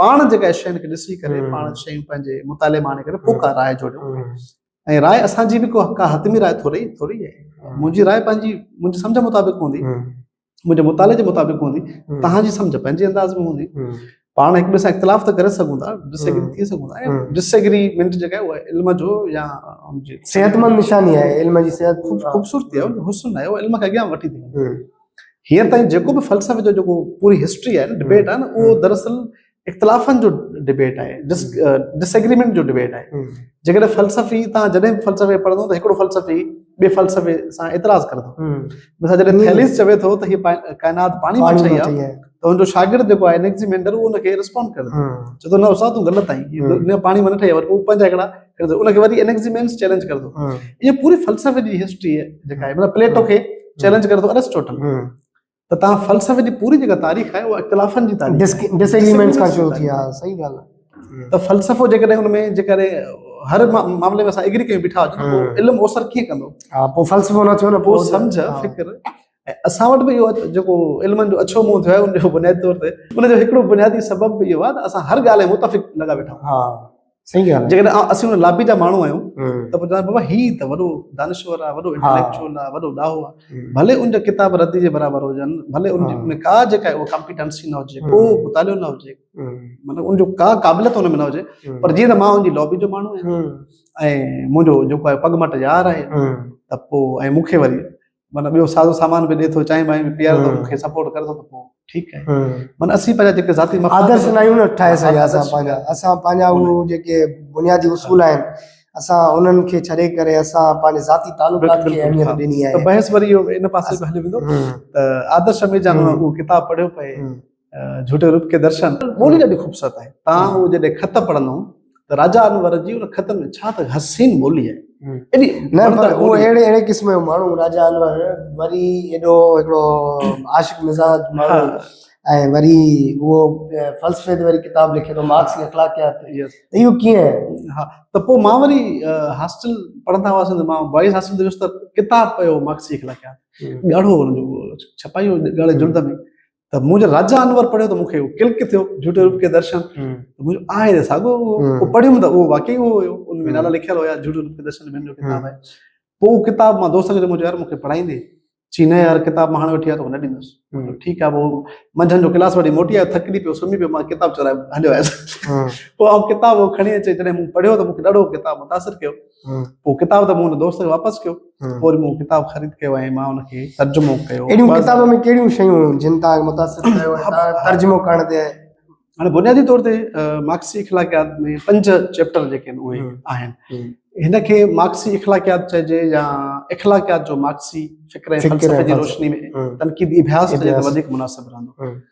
پاڻ جيڪا شين کي ڏسي ڪري پاڻ شيون پنهنجي مطالعي مان آڻي ڪري پوء ڪا راء جوڙيو ۽ راء اسان جي به ڪو ڪا حتمي راء ٿوري ٿوري آهي منهنجي راء پنهنجي منهنجي سمجھ مطابق هوندي منهنجي مطالعي جي مطابق هوندي تهان جي سمجھ پنهنجي انداز ۾ هوندي پاڻ هڪ ٻئي سان اختلاف ته ڪري سگھون ٿا ڊس ايگري ٿي سگھون ٿا ۽ ڊس ايگريمنٽ جيڪا آهي اها علم جو يا صحت مند نشاني آهي علم جي صحت خوبصورتي آهي حسن آهي علم کي اڳيان وٺي ٿي وڃي هينئر تائين جيڪو به فلسفي جو جيڪو پوري هسٽري آهي ڊبيٽ آهي نه اهو دراصل اختلافن جو ڊبيٽ آهي ڊس ايگريمنٽ جو ڊبيٽ آهي جيڪڏهن فلسفي تان جڏهن به فلسفي پڙهندو ته هڪڙو فلسفي ٻي فلسفي سان اعتراض ڪندو مثال جڏهن ٿيليس چوي ٿو ته هي ڪائنات پاڻي مان ٺهي آهي ته هن جو شاگرد جيڪو آهي انيڪزيمينڊر اهو هن کي رسپونڊ ڪري ٿو چوي ٿو نه استاد تون غلط آهين دنيا پاڻي مان نه ٺهي آهي پر هو پنهنجا هڪڙا ڪرندو ان کي وري انيڪزيمينس چيلنج ڪرندو ايئن پوري فلسفي جي هسٽري جيڪا آهي مطلب پليٽو کي چيلنج ڪري ٿو ارسٽوٽل ته تان فلسفي جي پوري جيڪا تاريخ آهي اها اختلافن جي تاريخ ڊس ايگريمينٽس کان شروع ٿي آهي صحيح ڳالهه آهي ته فلسفو جيڪڏهن ان ۾ جيڪڏهن هر معاملي ۾ اسان ايگري ڪري بيٺا هجون علم اوسر ڪيئن ڪندو ها پوء فلسفو نه ٿيو نه پوء سمجھ فڪر ۽ اسان وٽ به اهو جيڪو علمن جو اڇو منهن ٿيو آهي ان جو بنيادي طور تي ان جو هڪڙو بنيادي سبب به اهو آهي ته اسان هر ڳالهه ۾ متفق لڳا ويٺا آهيون ها صحيح ڳالهه جيڪڏهن اسين ان لابي جا ماڻهو آهيون ته پوء چونداسين بابا هي ته وڏو دانشور آهي وڏو انٽيليڪچوئل آهي وڏو ڏاهو آهي ڀلي ان جا ڪتاب ردي جي برابر هجن ڀلي ان ۾ ڪا جيڪا اهو ڪمپيٽنسي نه هجي ڪو مطالعو نه هجي مطلب ان جو ڪا قابليت ان ۾ نه هجي پر جيئن ته مان ان جي لابي جو ماڻهو آهيان ۽ منهنجو جيڪو آهي پڳ مٽ يار آهي ته پوء ۽ مون کي وري معنی ٻيو سازو سامان به ڏي ٿو چائين وائين به پياري ٿو مون کي سپورٽ ڪري ٿو ته پوء ٺيڪ آهي معنی اسين پنهنجا جيڪي ذاتي آدرش نه آهيون نه ٺاهي سگهيا اسان پنهنجا اسان پنهنجا اهو جيڪي بنيادي اصول آهن اسان انهن کي ڇڏي ڪري اسان پنهنجي ذاتي تعلقات کي اهميت ڏني آهي بحث وري ان پاسي به هليو ويندو ته آدرش ميرجان اهو ڪتاب پڙهيو پئي جھوٽي روپ کي درشن ٻولي ڏاڍي خوبصورت آهي تان هو جڏهن خط پڙهندو هو ته راجا انور جي ان خط ۾ ڇا ته حسين ٻولي آهي قسم جو ماڻهو راجا انور وري ايڏو هڪڙو عاشق مزاج ماڻهو ۽ وري اهو فلسفي تي وري ڪتاب لکي ٿو مارڪس جي اخلاقيات اهو ڪيئن ها ته پوء مان وري هاسٽل پڙهندا هئاسين ته مان بوائز هاسٽل تي ويس ته ڪتاب پيو مارڪس جي اخلاقيات ڳاڙهو هن جو ڇپائي هو ڳاڙهي جلد ۾ ته منهنجو راجا انور پڙهيو ته مونکي ڪلڪ ٿيو جهوٽي روپ کي درشن منهنجو آهي ته ساڳو اهو پڙهيم ته اهو واقعي اهو هيو ان ۾ نالا لکيل هيا جهوٽي روپ کي درشن منهنجو ڪتاب آهي پوء اهو ڪتاب مان دوست کي چيم يار مونکي پڙهائيندي چي نه يار ڪتاب مان هاڻي وٺي آيا توکي نه ڏيندس ٺيڪ آهي پوء منجهند جو ڪلاس وٺي موٽي آيو ٿڪجي پيو سمهي پيو مان ڪتاب چورائي هليو آيس پوء آئون ڪتاب کڻي اچي جڏهن مون پڙهيو ته مونکي ڏاڍو ڪتاب متاثر ڪيو پوء ڪتاب ته مون ان دوست کي واپس ڪيو پوء وري مون ڪتاب خريد ڪيو ۽ مان ان کي ترجمو ڪيو اهڙيون بس. ڪتاب ۾ ڪهڙيون شيون هيون جن تان متاثر ٿيو ۽ تان ترجمو ڪرڻ تي هاڻي بنيادي طور تي مارڪسي اخلاقيات ۾ پنج چيپٽر جيڪي آهن اهي هيون. آهن هيون. هن کي مارڪسي اخلاقيات چئجي يا اخلاقيات جو مارڪسي فڪر ۽ فڪر ۽ فلسفي جي فلسفي. روشني ۾ هيون. تنقيدي اڀياس چئجي ته اڀياس. وڌيڪ مناسب رهندو هيون.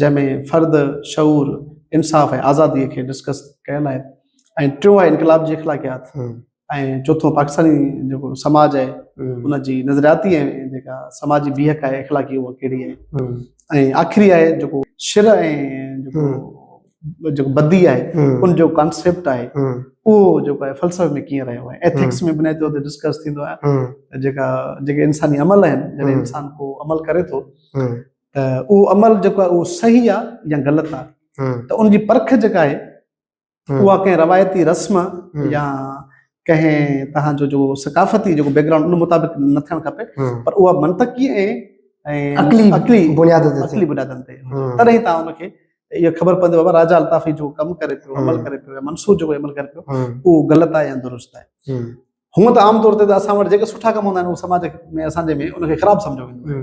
جنهن ۾ فرد، شعور، انصاف ۽ آزادي کي ڊسڪس ڪيل آهي ۽ ٽيون آهي انقلاب جي اخلاقيات ۽ چوٿون پاڪستاني جيڪو سماج آهي ان جي نظرياتي ۽ جيڪا سماجي بيهڪ آهي اخلاقي اها ڪهڙي آهي ۽ آخري آهي جيڪو شر ۽ جيڪو جيڪو بدي آهي ان جو ڪانسيپٽ آهي اهو جيڪو آهي فلسفي ۾ ڪيئن رهيو آهي ايٿڪس ۾ بنيادي طور تي ڊسڪس ٿيندو آهي جيڪا جيڪي انساني عمل آهن جڏهن انسان ڪو عمل ڪري ٿو ته اهو عمل جيڪو آهي اهو صحيح آهي يا غلط آهي ته ان جي پرک جيڪا آهي اها ڪنهن روايتي رسم يا ڪنهن تهان جو جيڪو ثقافتي جيڪو بيڪ گرائونڊ ان مطابق نه ٿيڻ کپي پر اها منطقي ۽ عقلي عقلي بنياد تي عقلي بنيادن تي تڏهن تان ان کي اها خبر پوندي بابا راجا الطافي جو ڪم ڪري پيو عمل ڪري پيو منصور جو عمل ڪري پيو اهو غلط آهي يا درست آهي هونء ته عام طور تي اسان وٽ جيڪي سٺا ڪم هوندا آهن اهو سماج ۾ اسان جي ۾ ان کي خراب سمجهيو ويندو آهي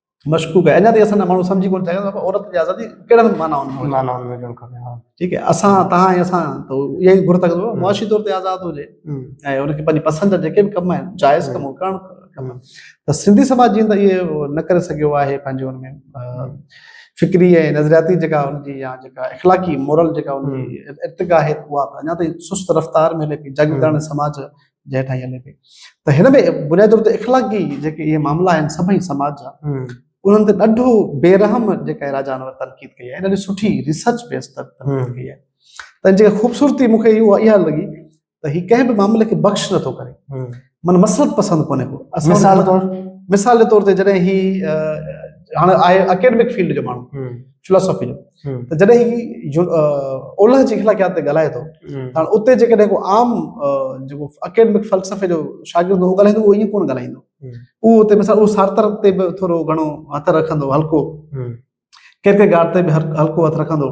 مشڪوڪ آهي اڃا تائين اسان جا ماڻهو سمجهي ڪونه سگهيا آهن ته عورت جي آزادي ڪهڙن معنائن ۾ معنائن ۾ هجڻ کپي ها ٺيڪ آهي اسان توهان ۽ اسان ته اها ئي گهر ٿا ڪيون معاشي طور تي آزاد هجي ۽ ان کي پنهنجي پسند جا جيڪي به ڪم آهن جائز ڪم ڪرڻ کپن ته سنڌي سماج جي اندر اهي نه ڪري سگهيو آهي پنهنجي ان ۾ فڪري ۽ نظرياتي جيڪا ان جي يا جيڪا اخلاقي مورل جيڪا ان جي ارتقا آهي اها اڃا تائين سست رفتار ۾ هلي پئي جاگيرداڻي سماج جنهن ٺاهي هلي پئي ته هن ۾ بنيادي طور تي اخلاقي جيڪي اهي معاملا آهن سڀئي سماج جا انهن تي ڏاڍو بي رحم جيڪا راجا انور تنقيد ڪئي آهي ڏاڍي سٺي ریسرچ بيس تنقيد ڪئي آهي ته جيڪا خوبصورتي مون کي اها اها لڳي ته هي ڪنهن به معاملي کي بخش نٿو ڪري من مسلط پسند ڪونهي ڪو مثال طور مثال جي طور تي جڏهن هي هاڻي آهي اڪيڊمڪ فيلڊ جو ماڻهو فلاسافي جو ته جڏهن هي اولهه جي اخلاقيات تي ڳالهائي ٿو هاڻ اتي جيڪڏهن ڪو عام جيڪو اڪيڊمڪ فلسفي جو شاگرد هو ڳالهائيندو اهو ائين ڪونه ڳالهائيندو اهو اتي مثال اهو سارتر تي به ٿورو گهڻو هٿ رکندو هلڪو ڪير ڪير گارد تي به هلڪو هٿ رکندو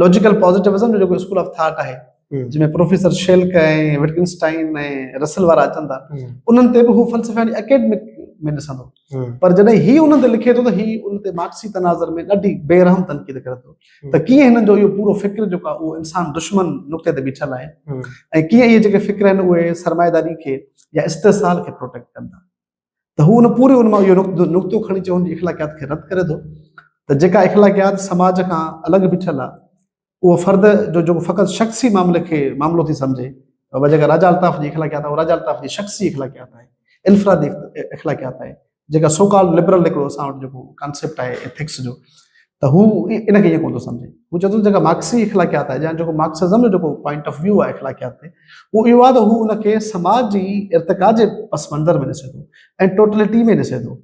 لاجيڪل پازيٽيوزم جو جيڪو اسڪول آف ٿاٽ آهي جنهن ۾ پروفيسر شيلڪ ۽ وٽڪنسٽائن ۽ رسل وارا اچن ٿا انهن تي به هو فلسفي اڪيڊمڪ ۾ ڏسندو پر جڏهن هي انهن تي لکي ٿو ته هي ان تي مارڪسي تناظر ۾ ڏاڍي بي رحم تنقيد ڪري ٿو ته ڪيئن هنن جو اهو پورو فڪر جيڪو آهي اهو انسان دشمن نقطي تي بيٺل آهي ۽ ڪيئن اهي جيڪي فڪر آهن اهي سرمائيداري کي يا استحصال کي پروٽيڪٽ ڪن ٿا ته هو ان پوري ان مان اهو نقطو کڻي چون جي اخلاقيات کي رد ڪري ٿو ته جيڪا اخلاقيات سماج کان الڳ بيٺل آهي اهو فرد جو جيڪو فقط شخصي معاملي کي معاملو ٿي سمجهي ۽ جيڪا راجا الطاف جي اخلاقيات آهي اها راجا الطاف جي شخصي اخلاقيات آهي انفرادي اخلاقيات آهي جيڪا سو ڪالڊ لبرل هڪڙو اسان وٽ جيڪو ڪانسيپٽ آهي ايٿڪس جو ته هو ان کي ائين ڪونه ٿو سمجهي هو چوندو جيڪا مارڪسي اخلاقيات آهي يا جيڪو مارڪسزم جو جيڪو پوائنٽ آف ويو آهي اخلاقيات تي اهو اهو آهي ته هو ان کي سماج جي ارتقا جي پس منظر ۾ ڏسي ٿو ۽ ٽوٽلٽي ۾ ڏسي ٿو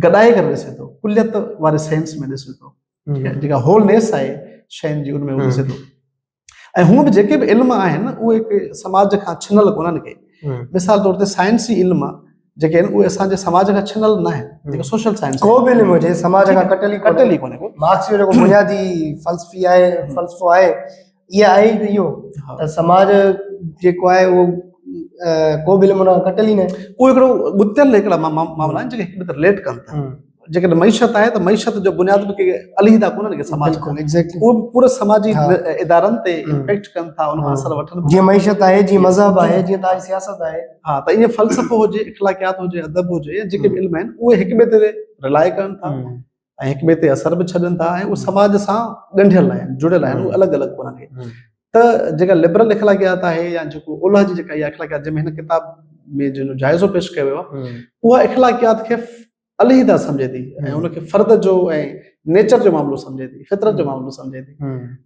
گڏائي ڪري ڏسي ٿو ڪليت واري سينس ۾ ڏسي ٿو جيڪا هول نيس آهي شين جي ان ۾ هو ڏسي ٿو ۽ هون به جيڪي به علم آهن اهي سماج کان ڇنل ڪونن ڪي مثال طور تي سائنسي علم آهي جيڪي آهن اهي اسان جي سماج کان ڇنل نه آهن جيڪو سوشل سائنس ڪو به علم هجي سماج کان ڪٽل ئي ڪٽل ئي ڪونهي مارڪس جو جيڪو بنيادي فلسفي آهي فلسفو آهي اها آهي ته اهو ته سماج جيڪو آهي اهو ڪو به علم ان کٽل ئي نه اهو هڪڙو ڳتيل هڪڙا معاملا آهن جيڪي هڪ ٻئي تي رليٽ ڪن ٿا جيڪڏهن معيشت آهي ته معيشت جو بنياد به ڪي عليحده ڪونهن ڪي سماج ڪو اهو پورو سماجي ادارن تي امپيڪٽ ڪن ٿا ان کان اثر وٺن جيئن معيشت آهي جيئن مذهب آهي جيئن تاج سياست آهي ها ته ائين فلسفو هجي اخلاقيات هجي ادب هجي جيڪي به علم آهن اهي هڪ ٻئي تي رلائي ڪن ٿا ۽ هڪ ٻئي تي اثر به ڇڏن ٿا ۽ اهي سماج سان ڳنڍيل آهن جڙيل آهن اهي الڳ الڳ ڪونه ٿي ته جيڪا لبرل اخلاقيات آهي يا جيڪو اولهه جي جيڪا اها اخلاقيات جنهن ۾ هن ڪتاب ۾ جنهن جو جائزو پيش ڪيو ويو آهي اها اخلاقيات کي عليحده سمجهي ٿي ۽ ان کي فرد جو ۽ نيچر جو معاملو سمجهي ٿي فطرت جو معاملو سمجهي ٿي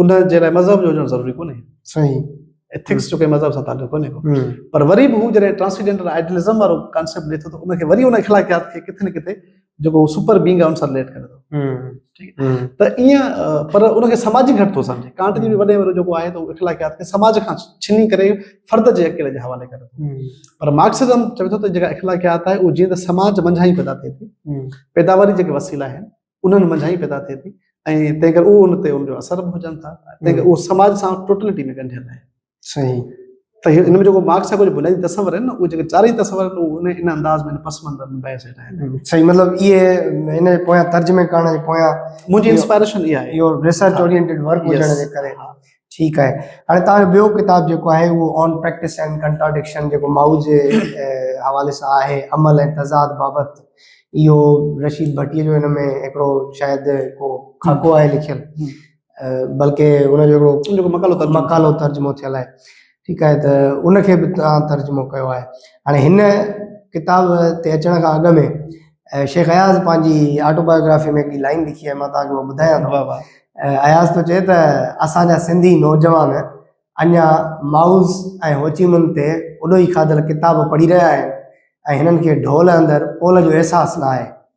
ان جي لاء مذهب جو هجڻ ضروري ڪونهي. صحيح. ايٿڪس جو ڪنهن مذهب سان تعلق ڪونهي ڪو. پر وري به هو جڏهن ٽرانسيڊنٽل آئيڊلزم وارو ڪانسيپٽ ڏي ٿو ته ان کي وري ان اخلاقيات کي ڪٿي نه ڪٿي جيڪو سپر بينگ آهي ان سان رليٽ ڪري ٿو. ته ائين پر ان کي سماجي گهٽ ٿو سمجهي. ڪانٽ جي به وڏي وارو جيڪو آهي ته هو اخلاقيات کي سماج کان ڇني ڪري فرد جي اڪيلي جي حوالي ڪري ٿو. پر مارڪسزم چوي ٿو ته جيڪا اخلاقيات آهي اهو جيئن ته سماج منجهان ئي پيدا ٿئي ٿي. پيداواري جيڪي وسيلا آهن. انهن منجهان ئي پيدا ٿئي ٿي ۽ تنهن ڪري اهو ان تي ان جو اثر به هجن ٿا تنهن ڪري اهو سماج سان ٽوٽلٽي ۾ ڳنڍيل آهي صحيح ته هن ۾ جيڪو مارڪس جا ڪجهه بنيادي تصور آهن نه اهي جيڪي چارئي تصور آهن اهو ان ان انداز ۾ پس منظر ۾ بحث هيٺ آهن صحيح مطلب اهي هن جي پويان ترجمي ڪرڻ جي پويان منهنجي انسپائريشن اها آهي يور ريسرچ اورينٽيڊ ورڪ هجڻ جي ڪري ٺيڪ آهي هاڻي توهان جو ٻيو ڪتاب جيڪو آهي اهو آن پريڪٽس اينڊ ڪنٽراڊڪشن جيڪو مائو جي حوالي سان آهي عمل ۽ تضاد بابت اهو رشيد ڀٽي جو هن ۾ هڪڙو شايد ڪو خاڪو آهي لکيل بلڪه هن جو هڪڙو مقالو ترجمو ٿيل آهي ٺيڪ آهي ته ان کي به توهان ترجمو ڪيو آهي هاڻي هن ڪتاب تي اچڻ کان اڳ ۾ شيخ اياز پنهنجي آٽوبايوگرافي ۾ هڪڙي لائن لکي آهي مان توهان کي اها ٻڌايان ٿو بابا اياز ٿو چئي ته اسان جا سنڌي نوجوان اڃا مائوز ۽ هوچيمن تي اڏوهي کاڌل ڪتاب پڙهي رهيا آهن ۽ هنن کي ڍول اندر پول جو احساس نه آهي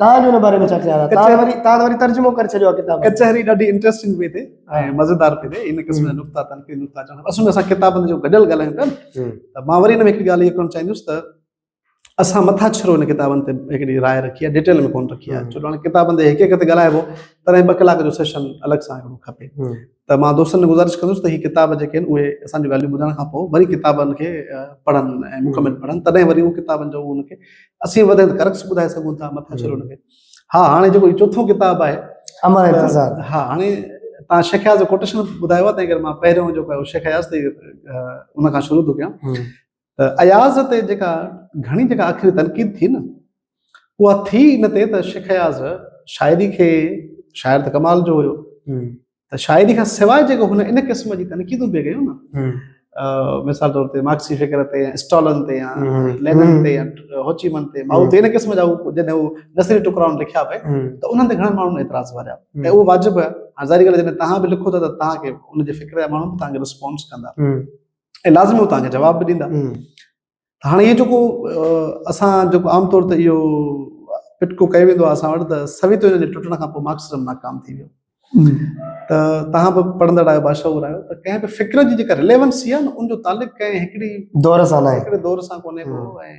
تان جو ان باري ۾ ڇا خيال آهي تان وري تان وري ترجمو ڪري ڇڏيو آهي ڪتاب ڪچهري ڏاڍي انٽريسٽنگ پئي ٿي ۽ مزيدار پئي ٿي ان قسم جا نقطا تنقيد نقطا چون اصل ۾ اسان ڪتابن جو گڏيل ڳالهايون پيا ته مان وري ان ۾ هڪ ڳالهه اهو ڪرڻ چاهيندس ته اسان مٿا ڇرو ان ڪتابن تي هڪڙي راء رکي آهي ڊيٽيل ۾ ڪون رکي آهي ڇو جو هاڻي ڪتابن تي هڪ هڪ تي ڳالهائبو تڏهن ٻه ڪلاڪ جو سيشن الڳ سان هڪڙو کپي ته مان دوستن کي گذارش ڪندس ته هي ڪتاب جيڪي آهن اهي اسان جون ڳالهيون ٻڌڻ کان پوء وري ڪتابن کي پڙهن ۽ مڪمل پڙهن تڏهن وري اهو ڪتابن جو ان کي اسين وڌين ڪرڪس ٻڌائي سگهون ٿا مٿان ڇڏو ان کي ها هاڻي جيڪو چوٿون ڪتاب آهي امر انتظار ها هاڻي تان شيخ اياز جو ڪوٽيشن ٻڌايو آهي تنهن ڪري مان پهريون جو شيخ اياز تي ان کان شروع ٿو ڪيان ته اياز تي جيڪا گهڻي جيڪا آخري تنقيد ٿي نه اها ٿي ان تي ته شيخ اياز شاعري کي شاعر ته ڪمال جو هيو ته شاعري کان سواء جيڪو هن ان قسم جي تنقيدون پئي ڪيون نه مثال طور تي مارڪسي فڪر تي يا اسٽالن تي يا لينن تي يا هوچيمن تي ماؤ تي ان قسم جا جڏهن هو نثري ٽڪرا لکيا پئي ته انهن تي گهڻا ماڻهن اعتراض واريا ۽ اهو واجب آهي هاڻ ظاهري ڳالهه جڏهن توهان به لکو ٿا ته توهان کي ان جي فڪر جا ماڻهو به توهان کي رسپانس ڪندا ۽ لازمي هو توهان کي جواب به ڏيندا هاڻي اهو جيڪو اسان جيڪو عام طور تي اهو پٽڪو ڪيو ويندو آهي اسان وٽ ته سويتو يونين جي ٽٽڻ کان پوء مارڪسزم ناڪام ٿي ويو ته توهان به پڙهندڙ آهيو باشعور آهيو ته ڪنهن به فڪر جي جيڪا رليونسي آهي نه ان جو تعلق ڪنهن هڪڙي دور سان آهي هڪڙي دور سان ڪونهي ڪو ۽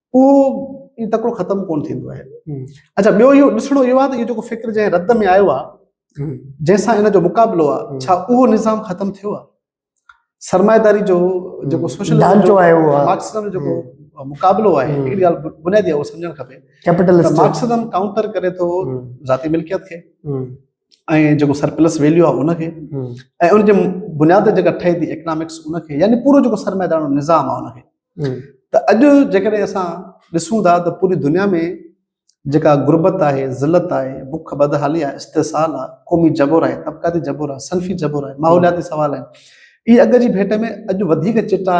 اهو ايئن تڪڙو ختم ڪونه ٿيندو آهي اچا ٻيو اهو ڏسڻو اهو آهي ته اهو جيڪو فڪر جنهن رد ۾ آيو آهي جنهن سان هن جو مقابلو آهي ڇا اهو نظام ختم ٿيو آهي سرمائيداري جو جيڪو سوشل ڍانچو آهي اهو مارڪسزم جو جيڪو مقابلو آهي هڪڙي ڳالهه بنيادي اهو سمجهڻ کپي ڪيپيٽلسٽ مارڪسزم کاؤنٽر ڪري ٿو ذاتي ملڪيت کي ۽ جيڪو سرپلس ويليو آهي ان کي ۽ ان جي بنياد جيڪا ٺهي ٿي اڪنامڪس ان کي يعني پورو جيڪو سرمائيدارو نظام آهي ان کي ته اڄ جيڪڏهن اسان ڏسون ٿا ته پوري دنيا ۾ جيڪا غربت آهي، ذلت آهي، بک بدحالي آهي، استحصال آهي، قومي جبر آهي، طبقاتي جبر آهي، صنفي جبر آهي، ماحولياتي سوال آهن، اهي اڳ جي ڀيٽ ۾ اڄ وڌيڪ چٽا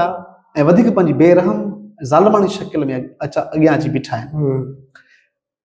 ۽ وڌيڪ پنهنجي بي رحم ۽ ظالماڻي شڪل ۾ اڳيان اچي بيٺا آهن.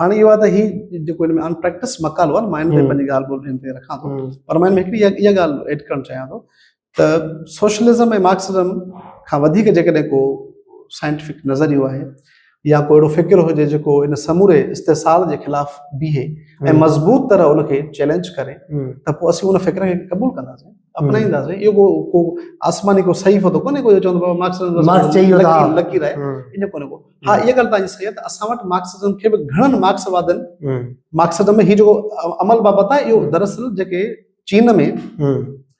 هاڻي اهو آهي ته هي جيڪو هن ۾ ان پريڪٽس مقالو آهي مان هن تي پنهنجي ڳالهه ٻولهه هن تي رکان ٿو پر مان هن ۾ هڪڙي اها ڳالهه ايڊ ڪرڻ چاهيان ٿو ته سوشلزم ۽ مارڪسزم کان وڌيڪ جيڪڏهن ڪو سائنٽيفڪ نظريو آهي يا ڪو اهڙو فڪر هجي جيڪو ان سموري استحصال جي خلاف بيهي ۽ مضبوط طرح ان کي چئلينج ڪري ته پوء اسين ان فڪر کي قبول ڪنداسين اپنائينداسين اهو ڪو ڪو آسماني ڪو صحيفو ته ڪونهي ڪو جو چوندو بابا مارڪسزم مارڪس چئي ويو ته لڪير آهي ان جو ڪونهي ڪو ها اها ڳالهه تنهنجي صحيح ته اسان وٽ مارڪسزم کي به گهڻن مارڪس وادن مارڪسزم ۾ هي جيڪو عمل بابت آهي اهو دراصل جيڪي چين ۾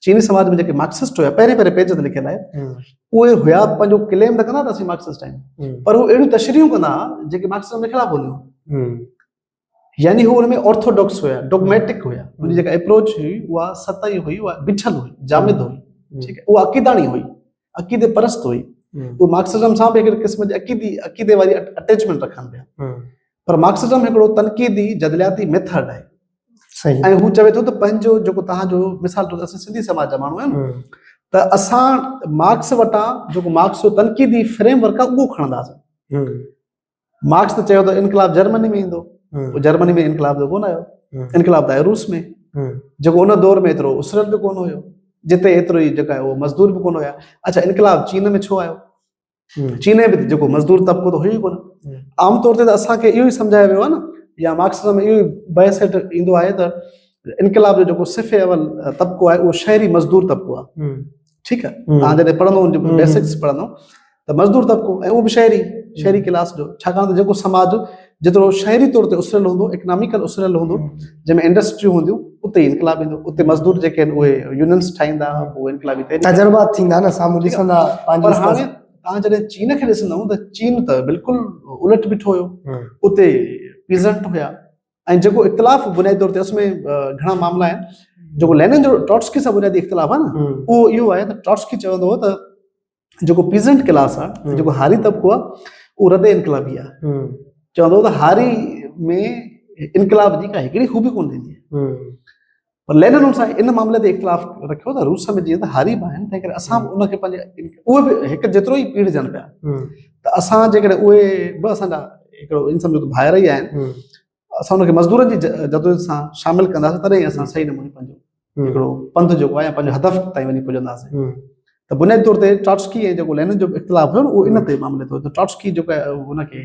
چيني سماج ۾ جيڪي مارڪسسٽ هيا پهرين پهرين پيج تي لکيل آهي اهي هيا پنهنجو ڪليم ته ڪندا ته اسين مارڪسسٽ آهيون پر هو اهڙيون تشريحون ڪندا هئا جيڪي مارڪسزم جي خلاف هونديون يعني هو ان ۾ آرٿوڊاڪس هيا ڊوگميٽڪ هيا ان جي جيڪا اپروچ هئي اها سطحي هئي اها بڇل هئي جامد هئي ٺيڪ آهي اها عقيداڻي هئي عقيدي پرست هئي اهو مارڪسزم سان به هڪڙي قسم جي عقيدي عقيدي واري اٽيچمنٽ رکن پيا پر مارڪسزم هڪڙو تنقيدي جدلياتي ميٿڊ آهي صحيح ۽ هو چوي ٿو ته پنهنجو جيڪو تهان جو مثال طور اسان سنڌي سماج جا ماڻهو آهيون ته اسان مارڪس وٽان جيڪو مارڪس جو تنقيدي فريم ورڪ آهي اهو کڻنداسين مارڪس ته چيو ته انقلاب جرمني ۾ ايندو جرمني ۾ انقلاب جو ڪونه آيو انقلاب ته آيو روس ۾ جيڪو ان دور ۾ ايترو اسرت به ڪونه هيو جتي ايترو ئي جيڪا اهو مزدور به ڪونه هيا اچا انقلاب چين ۾ ڇو آيو چين ۾ به جيڪو مزدور طبقو ته هيو ڪونه عام طور تي ته اسانکي اهو ئي سمجهايو ويو آهي نه يا مارڪس ۾ اهو بحث هيٺ ايندو آهي ته انقلاب جو جيڪو صفي اول طبقو آهي اهو شهري مزدور طبقو آهي ٺيڪ آ توهان جڏهن پڙهندو ان جي بيسڪس پڙهندو ته مزدور طبقو ۽ اهو به شهري شهري ڪلاس جو ڇاڪاڻ ته جيڪو سماج جيترو شهري طور تي اسريل هوندو اڪناميڪل اسريل هوندو جنهن ۾ انڊسٽريون هونديون اتي ئي انقلاب ايندو اتي مزدور جيڪي آهن اهي يونينس ٺاهيندا اهي انقلابي تجربات ٿيندا نه سامهون ڏسندا پر هاڻي توهان جڏهن چين کي ڏسندو ته چين ته بلڪل الٽ بيٺو هيو اتي پيزنٽ هيا ۽ جيڪو اختلاف بنيادي طور تي اس ۾ گهڻا معاملا آهن جيڪو لينن جو ٽاٽسڪي سان بنيادي اختلاف آهي نه اهو اهو آهي ته ٽاٽسڪي چوندو هو ته جيڪو پيزنٽ ڪلاس آهي جيڪو هاري طبقو آهي اهو رد انقلابي آهي چوندو هو ته هاري ۾ انقلاب جي ڪا هڪڙي خوبي ڪونه ٿيندي پر لينن ان سان ان معاملي تي اختلاف رکيو ته روس ۾ جيئن ته هاريب آهن تنهن ڪري اسان به ان کي پنهنجي اهي به هڪ جيترو ئي پيڙجن پيا ته اسان جيڪڏهن اهي به اسان جا هڪڙو ان سمجھو ته ڀائر ئي آهن اسان ان کي مزدورن جي جدوجهد سان شامل ڪنداسين تڏهن ئي اسان صحيح نموني پنهنجو هڪڙو پنڌ جيڪو آهي پنهنجو هدف تائين وڃي پڄنداسين ته بنيادي طور تي ٽاٽسڪي ۽ جيڪو لينن جو اختلاف هيو نه اهو ان تي معاملي تي هيو ته ٽاٽسڪي جيڪو هن کي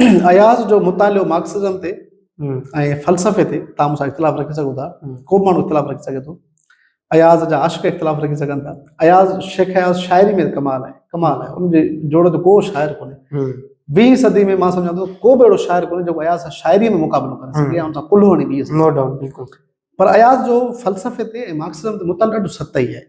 اياز جو مطالعو مارڪسزم تي ۽ فلسفي تي تان مون سان اختلاف رکي سگهو ٿا ڪو به ماڻهو اختلاف رکي سگهي ٿو اياز جا عاشق اختلاف رکي سگهن ٿا اياز شيخ اياز شاعري ۾ ڪمال آهي ڪمال آهي ان جي جوڙ جو ڪو شاعر ڪونهي ويهين صدي ۾ مان سمجھان ٿو ڪو به اهڙو شاعر ڪونهي جيڪو اياز سان شاعري ۾ مقابلو ڪري سگهي ان سان ڪلهو هڻي بيهي سگهي پر اياز جو فلسفي تي ۽ مارڪسزم تي مطالعو ڏاڍو سطحي آهي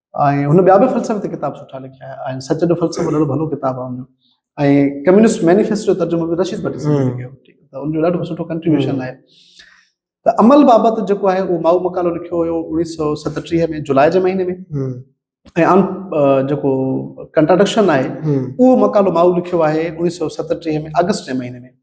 ۽ هن ٻيا به فلسفي تي ڪتاب سٺا لکيا آهن ۽ سچ جو فلسفو ڏاڍو ڀلو ڪتاب آهي هن ۽ ڪميونسٽ مينيفيسٽو جو ترجمو به رشيد ڀٽي صاحب ڪيو ته ان جو ڏاڍو سٺو ڪنٽريبيوشن آهي ته عمل بابت جيڪو آهي اهو ماؤ مقالو لکيو هيو اڻيهه سو ستٽيهه ۾ جولاء جي مهيني ۾ ۽ عام جيڪو ڪنٽراڊڪشن آهي اهو مقالو ماؤ لکيو آهي اڻيهه سو ستٽيهه ۾ آگسٽ جي مهيني ۾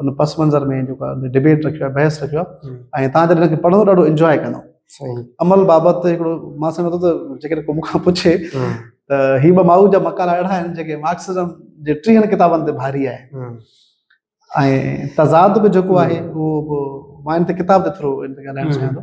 ان پس منظر ۾ جيڪو آهي ڊبيٽ رکيو آهي بحث رکيو آهي ۽ تان جڏهن کي پڙهندو ڏاڍو انجواء ڪندو عمل بابت هڪڙو مان سمجهان ٿو ته جيڪڏهن ڪو مون کان پڇي ته هي ٻه ماؤ جا مقالا اهڙا آهن جيڪي مارڪسزم جي ٽيهن ڪتابن تي ڀاري آهي ۽ تضاد به جيڪو آهي اهو به مان هن تي ڪتاب جي ٿرو هن تي ڳالهائڻ چاهيان ٿو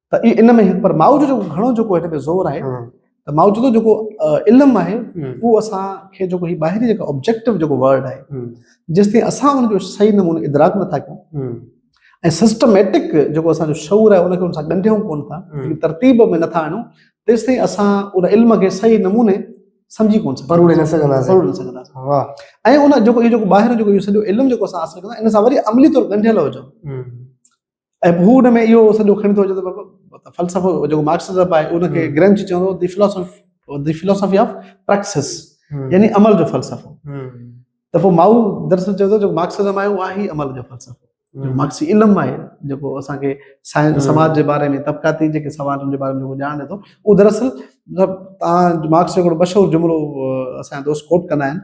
ته اي ان ۾ پر ماء جو جو گھڻو جو ڪوئي ته زور آهي ته ماء جو جو ڪو علم آهي اهو اسان کي جو ڪوئي باهري جو آبجيڪٽو جو ورڊ آهي جس تي اسان ان جو صحيح نموني ادراڪ نه ٿاڪون ۽ سسٽميٽڪ جو اسان جو شعور آهي ان کي ان سان ڳنڍيون ڪون ٿا ترتيب ۾ نٿا آڻون تيس تائين اسان ان علم کي صحيح نموني سمجھي ڪون سگھندا پروڙي نه سگھندا پروڙي نه سگھندا واه ۽ ان جو جو باهر جو سڄو علم جو اسان حاصل ڪندا ان سان وري عملي طور ڳنڍيل هجو ۽ هو ان ۾ اهو سڄو کڻي ٿو اچي ته فلسفو جيڪو مارڪسزم آهي ان کي گرنچ چيو هو دي فلسفي دي فلسفي آف پريڪسس يعني عمل جو فلسفو ته پوء مائو دراصل چيو جو مارڪسزم آهي اهو آهي عمل جو فلسفو مارڪسي علم آهي جيڪو اسانکي سائنس سماج جي باري ۾ طبقاتي جيڪي سوالن جي باري ۾ جيڪو ڄاڻ ڏي ٿو اهو دراصل مطلب تان مارڪس جو هڪڙو مشهور جملو اسان دوست ڪوٽ ڪندا آهن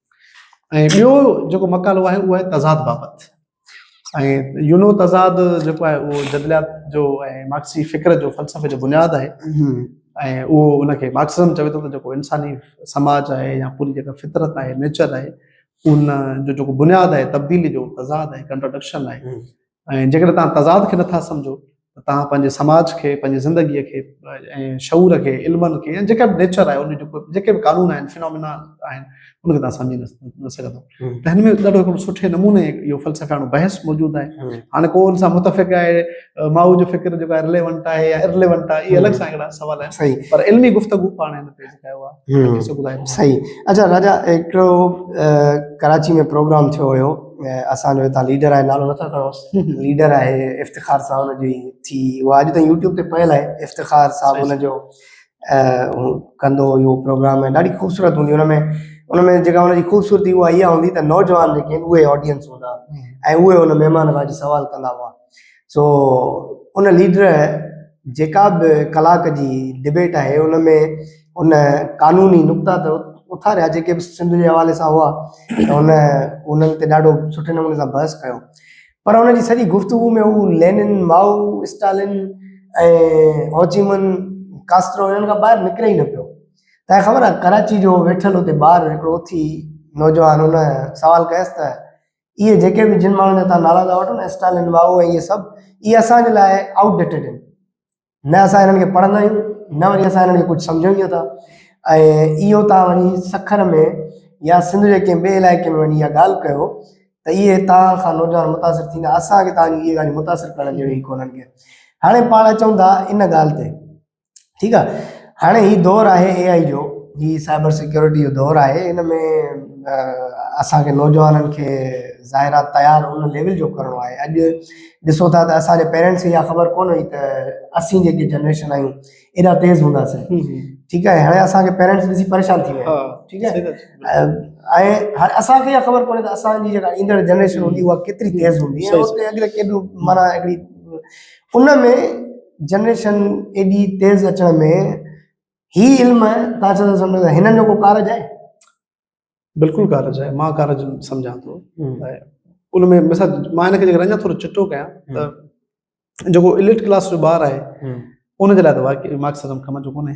۽ ٻيو جيڪو مقالو آهي اهو آهي تضاد بابت ۽ يونو تضاد جيڪو آهي اهو جدليات جو ۽ مارڪسي فڪر جو فلسفي جو بنياد آهي ۽ اهو ان کي مارڪسزم چوي ٿو ته جيڪو انساني سماج آهي يا پوري جيڪا فطرت آهي نيچر آهي ان جو جيڪو بنياد آهي تبديلي جو تضاد آهي ڪنٽراڊڪشن آهي ۽ جيڪڏهن توهان تضاد کي نٿا سمجهو ته توهان پنهنجي سماج کي، پنهنجي زندگيء کي ۽ شعور کي، علمن کي يا جيڪا به نيچر آهي ان جون جيڪي به قانون آهن، فينامينا آهن، ان کي توهان سمجهي نه سگهندؤ. ته هن ۾ ڏاڍو هڪڙو سٺي نموني اهو فلسفياڻو بحث موجود آهي. هاڻي ڪو ان سان متفق آهي، مائو جو فڪر جيڪو آهي رليونٽ آهي يا ارليونٽ آهي، اهي الڳ سان هڪڙا سوال آهن. پر علمي گفتگو پاڻ هن تي. سائين اچا راجا هڪڙو ڪراچي ۾ پروگرام ٿيو هيو اسان جو هتان ليڊر آهي نالو نٿا کڻو ليڊر آهي افتخار صاحب ان جي ٿي هو اڄ تائين يوٽيوب تي پيل آهي افتخار صاحب ان جو ڪندو هيو پروگرام ۾ ڏاڍي خوبصورت هوندي ان ۾ ان ۾ جيڪا ان جي خوبصورتي هو اها هوندي ته نوجوان جيڪي ان اهي آڊينس هوندا ۽ اهي ان مهمان کان سوال ڪندا هئا سو ان ليڊر جيڪا به ڪلاڪ جي ڊبيٽ آهي ان ۾ ان قانوني نقطا ته اٿاريا جيڪي به سنڌ جي حوالي سان هئا ته ان انهن تي ڏاڍو سٺي نموني سان بحث ڪيو پر ان جي سڄي گفتگو ۾ هو Lenin Mao Stalin ۽ Ho Chi Minh Castro انهن کان ٻاهر نڪري ئي نه پيو تنهن خبر آهي ڪراچي جو ويٺل اتي ٻار هڪڙو اٿي نوجوان ان سوال ڪيس ته اهي جيڪي به جن ماڻهن جا تان نالا ٿا وٺو نه اسٽالن واهو ۽ اهي سڀ اهي اسان جي لاء آؤٽ ڊيٽيڊ آهن نه اسان انهن کي پڙهندا آهيون نه وري اسان انهن کي ڪجهه سمجهون ٿا ۽ اهو تان وڃي سکر ۾ يا سنڌ جي ڪنهن ٻئي علائقي ۾ وڃي اها ڳالهه ڪيو ته اهي تان کان نوجوان متاثر ٿيندا اسان کي تان جي اهي ڳالهيون متاثر ڪرڻ جهڙيون ئي ڪونهن ڪي هاڻي پاڻ اچون ٿا ان ڳالهه تي ٺيڪ آ هاڻي هي دور آهي اي آئي جو هي سائبر سيڪيورٽي جو دور آهي ان ۾ اسان کي نوجوانن کي ظاهر آ تيار ان ليول جو ڪرڻو آهي اڄ ڏسو ٿا ته اسانجي پيرنٽس کي اها خبر ڪون هئي ته اسين جيڪي جنريشن آهيون ايڏا تيز هونداسين ٺيڪ آهي هاڻي اسانکي پيرنٽس ڏسي پريشان ٿي ويا ٺيڪ آهي ۽ هاڻي اسانکي اها خبر ڪونهي ته اسانجي جيڪا ايندڙ جنريشن هوندي اها ڪيتري تيز هوندي ۽ اڳتي ڪيڏو معنيٰ هڪڙي ان ۾ جنريشن ايڏي تيز اچڻ ۾ هي علم تان چون سمجهو ته هنن جو ڪو ڪارج آهي بلڪل ڪارج آهي مان ڪارج سمجهان ٿو ان ۾ مثال مان هن کي جيڪر اڃا ٿورو چٽو ڪيان ته جيڪو اليٽ ڪلاس جو ٻار آهي ان جي لاء ته واقعي مارڪسزم ڪم جو ڪونهي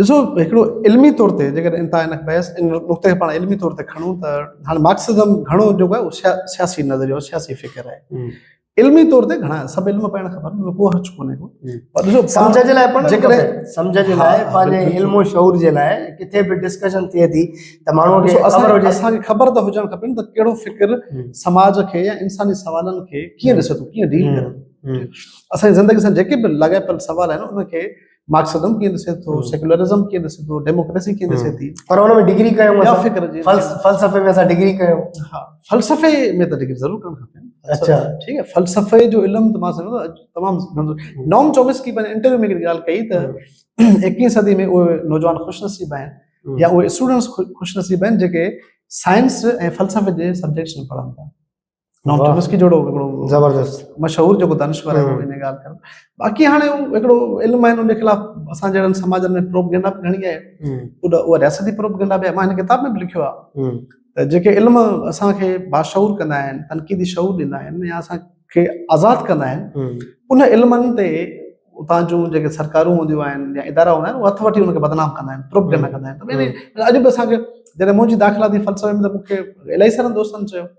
ڏسو هڪڙو علمي طور تي جيڪڏهن انت ان بحث ان نقطي کي پاڻ علمي طور تي کڻون ته هاڻي مارڪسزم گهڻو جيڪو آهي اها سياسي نظريو آهي سياسي فڪر آهي علمي طور تي گهڻا سڀ علم پاڻ خبر ۾ ڪو حرج ڪونهي ڪو پر ڏسو سمجھ جي لاء پاڻ جيڪڏهن سمجھ جي لاء پنهنجي علم و شعور جي لاء ڪٿي به ڊسڪشن ٿئي ٿي ته ماڻهو کي خبر هجي اسان کي خبر ته هجڻ کپن ته ڪهڙو فڪر سماج کي يا انساني سوالن کي ڪيئن ڏسي ٿو ڪيئن ڊيل ڪري اسان زندگي سان جيڪي به لاڳاپيل سوال آهن ان کي مارڪسزم کي ڏسي ٿو سيڪولرزم کي ڏسي ٿو ڊيموڪريسي کي ڏسي ٿي پر ان ۾ ڊگري ڪيو يا فڪر جي فلسفي ۾ اسا ڊگري ڪيو ها فلسفي ۾ ته ڊگري ضرور ڪرڻ کپي اچھا ٺيڪ آهي فلسفي جو علم ته مان سمجھندو تمام نوم چومسڪي پنهنجي انٽرويو ۾ ڳالهه ڪئي ته 21 صدي ۾ اهي نوجوان خوش نصيب آهن يا اهي اسٽوڊنٽس خوش نصيب آهن جيڪي سائنس ۽ فلسفي جي سبجيڪٽس ۾ پڙهن ٿا نام چومسڪي جوڙو هڪڙو زبردست مشهور جيڪو دانشور آهي ان ڳالهه ڪرڻ باقي هاڻي هڪڙو علم آهن ان خلاف اسان جهڙن سماجن ۾ پروپگنڊا به گهڻي آهي اها رياستي پروپگنڊا به مان هن ڪتاب ۾ به لکيو آهي ته جيڪي علم اسانکي باشعور ڪندا آهن تنقيدي شعور ڏيندا آهن يا اسانکي آزاد ڪندا آهن ان علمن تي اتان جون جيڪي سرڪارون هونديون آهن يا ادارا هوندا آهن هٿ وٺي ان کي بدنام ڪندا آهن پروپگنڊا ڪندا آهن اڄ به اسانکي جڏهن منهنجي داخلاتي فلسفي ۾ ته مون کي الاهي سارن دوستن چيو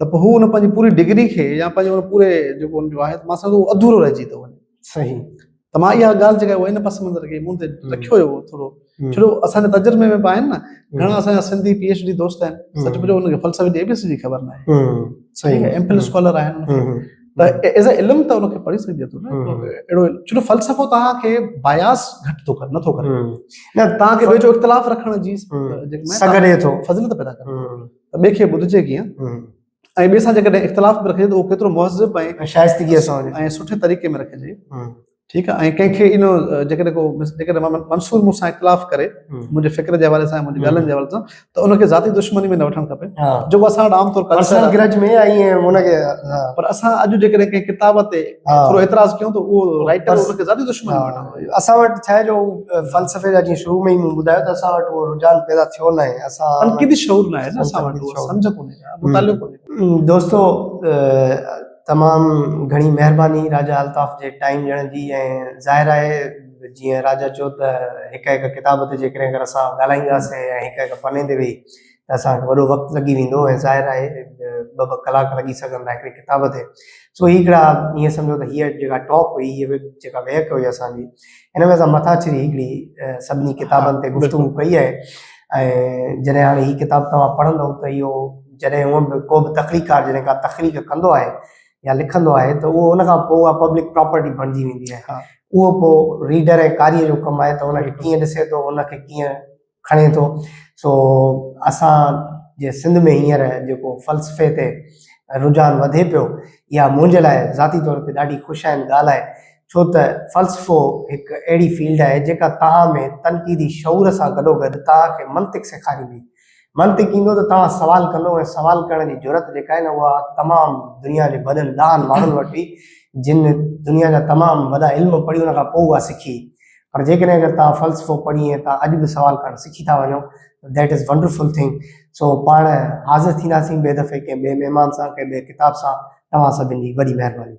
ته پوء هو ان پنهنجي پوري ڊگري کي يا پنهنجي ان پوري جيڪو ان جو آهي ماسڪ اهو اڌورو رهجي ٿو وڃي صحيح ته مان اها ڳالهه جيڪا ان پس منظر کي مون تي رکيو هيو ٿورو ڇڙو اسان جي تجربي ۾ به آهن نه گهڻا اسان جا سنڌي پي ايڇ ڊي دوست آهن سچ پچو ان کي فلسفي جي اي بي سي جي خبر نه آهي صحيح ايم فل اسڪالر آهن ته ايز اي علم ته ان کي پڙهي سگهجي ٿو نه اهڙو ڇڙو فلسفو توهان کي باياس گهٽ ٿو ڪري نٿو ڪري نه توهان کي ٻئي جو اختلاف رکڻ جي سگهي ٿو فضيلت پيدا ڪري ته ٻئي کي ٻڌجي ڪيئن ۽ ٻئي سان جيڪڏهن اختلاف به رکجي ته اهو ڪيترو مهذب ۽ شائستگيء سان هجي ۽ سٺي طريقي ۾ رکجي ٺيڪ آهي ۽ ڪنهن کي ان جيڪڏهن ڪو جيڪڏهن منصور مون سان اختلاف ڪري منهنجي فڪر جي حوالي سان ۽ منهنجي ڳالهين جي حوالي سان ته ان کي ذاتي دشمني ۾ نه وٺڻ کپي جيڪو اسان وٽ عام طور پر اسان اڄ جيڪڏهن ڪنهن ڪتاب تي ٿورو اعتراض ڪيون ته اهو رائٽر ان کي زيادي دشمن بڻايو اسان وٽ ڇا جو فلسفي جا جي شروع ۾ مون ٻڌايو ته اسان وٽ اهو رجحان پيدا ٿيو نه آهي اسان تنقيدي شعور نه آهي نه اسان وٽ اهو سمجھ ڪونهي ڪا مطالعو ڪونهي دوستو تمام گھڻي مهرباني راجا الطاف جي ٽائيم ڏيڻ جي ۽ ظاهر آهي جيئن راجا چيو ته هڪ هڪ ڪتاب تي جيڪڏهن اگر اسان ڳالهائينداسين ۽ هڪ هڪ پني تي ويهي ته اسان کي وڏو وقت لڳي ويندو ۽ ظاهر آهي ٻه ٻه ڪلاڪ لڳي سگهن ٿا هڪڙي ڪتاب تي سو هي هڪڙا ائين سمجهو ته هيء جيڪا ٽاپ هئي هيء جيڪا ويهڪ هئي اسان جي هن ۾ اسان مٿا ڇري هڪڙي سڀني ڪتابن تي گفتگو ڪئي آهي ۽ جڏهن هاڻي هي ڪتاب توهان پڙهندو ته اهو جڏهن هونء به ڪو به تخليقڪار جڏهن ڪا تخليق ڪندو آهي يا لکندو آهي ته اهو ان کان پوء اها پبلڪ پراپرٽي بڻجي ويندي آهي اهو پوء ريڊر ۽ قاريء جو ڪم آهي ته ان کي ڪيئن ڏسي ٿو ان کي ڪيئن کڻي ٿو سو اسان جي سنڌ ۾ هينئر جيڪو فلسفي تي رجحان وڌي پيو اها منهنجي لاء ذاتي طور تي ڏاڍي خوشائن ڳالهه آهي ڇو ته فلسفو هڪ اهڙي فيلڊ آهي جيڪا توهان ۾ تنقيدي شعور سان گڏوگڏ توهان کي منطق سيکاريندي منطق ايندو ته توهان سوال ڪندو ۽ سوال ڪرڻ جي جرئت جيڪا آهي نه اها تمام دنيا جي وڏن ڏاهن ماڻهن وٽ هئي جن دنيا جا تمام وڏا علم پڙهي ان کان پوء اها سکي پر جيڪڏهن اگر توهان فلسفو پڙهي ۽ توهان اڄ به سوال ڪرڻ سکي ٿا وڃو ته that is wonderful thing so پاڻ حاضر ٿينداسين ٻئي دفعي ڪنهن ٻئي مهمان سان ڪنهن ٻئي ڪتاب سان توهان سڀن جي وڏي مهرباني.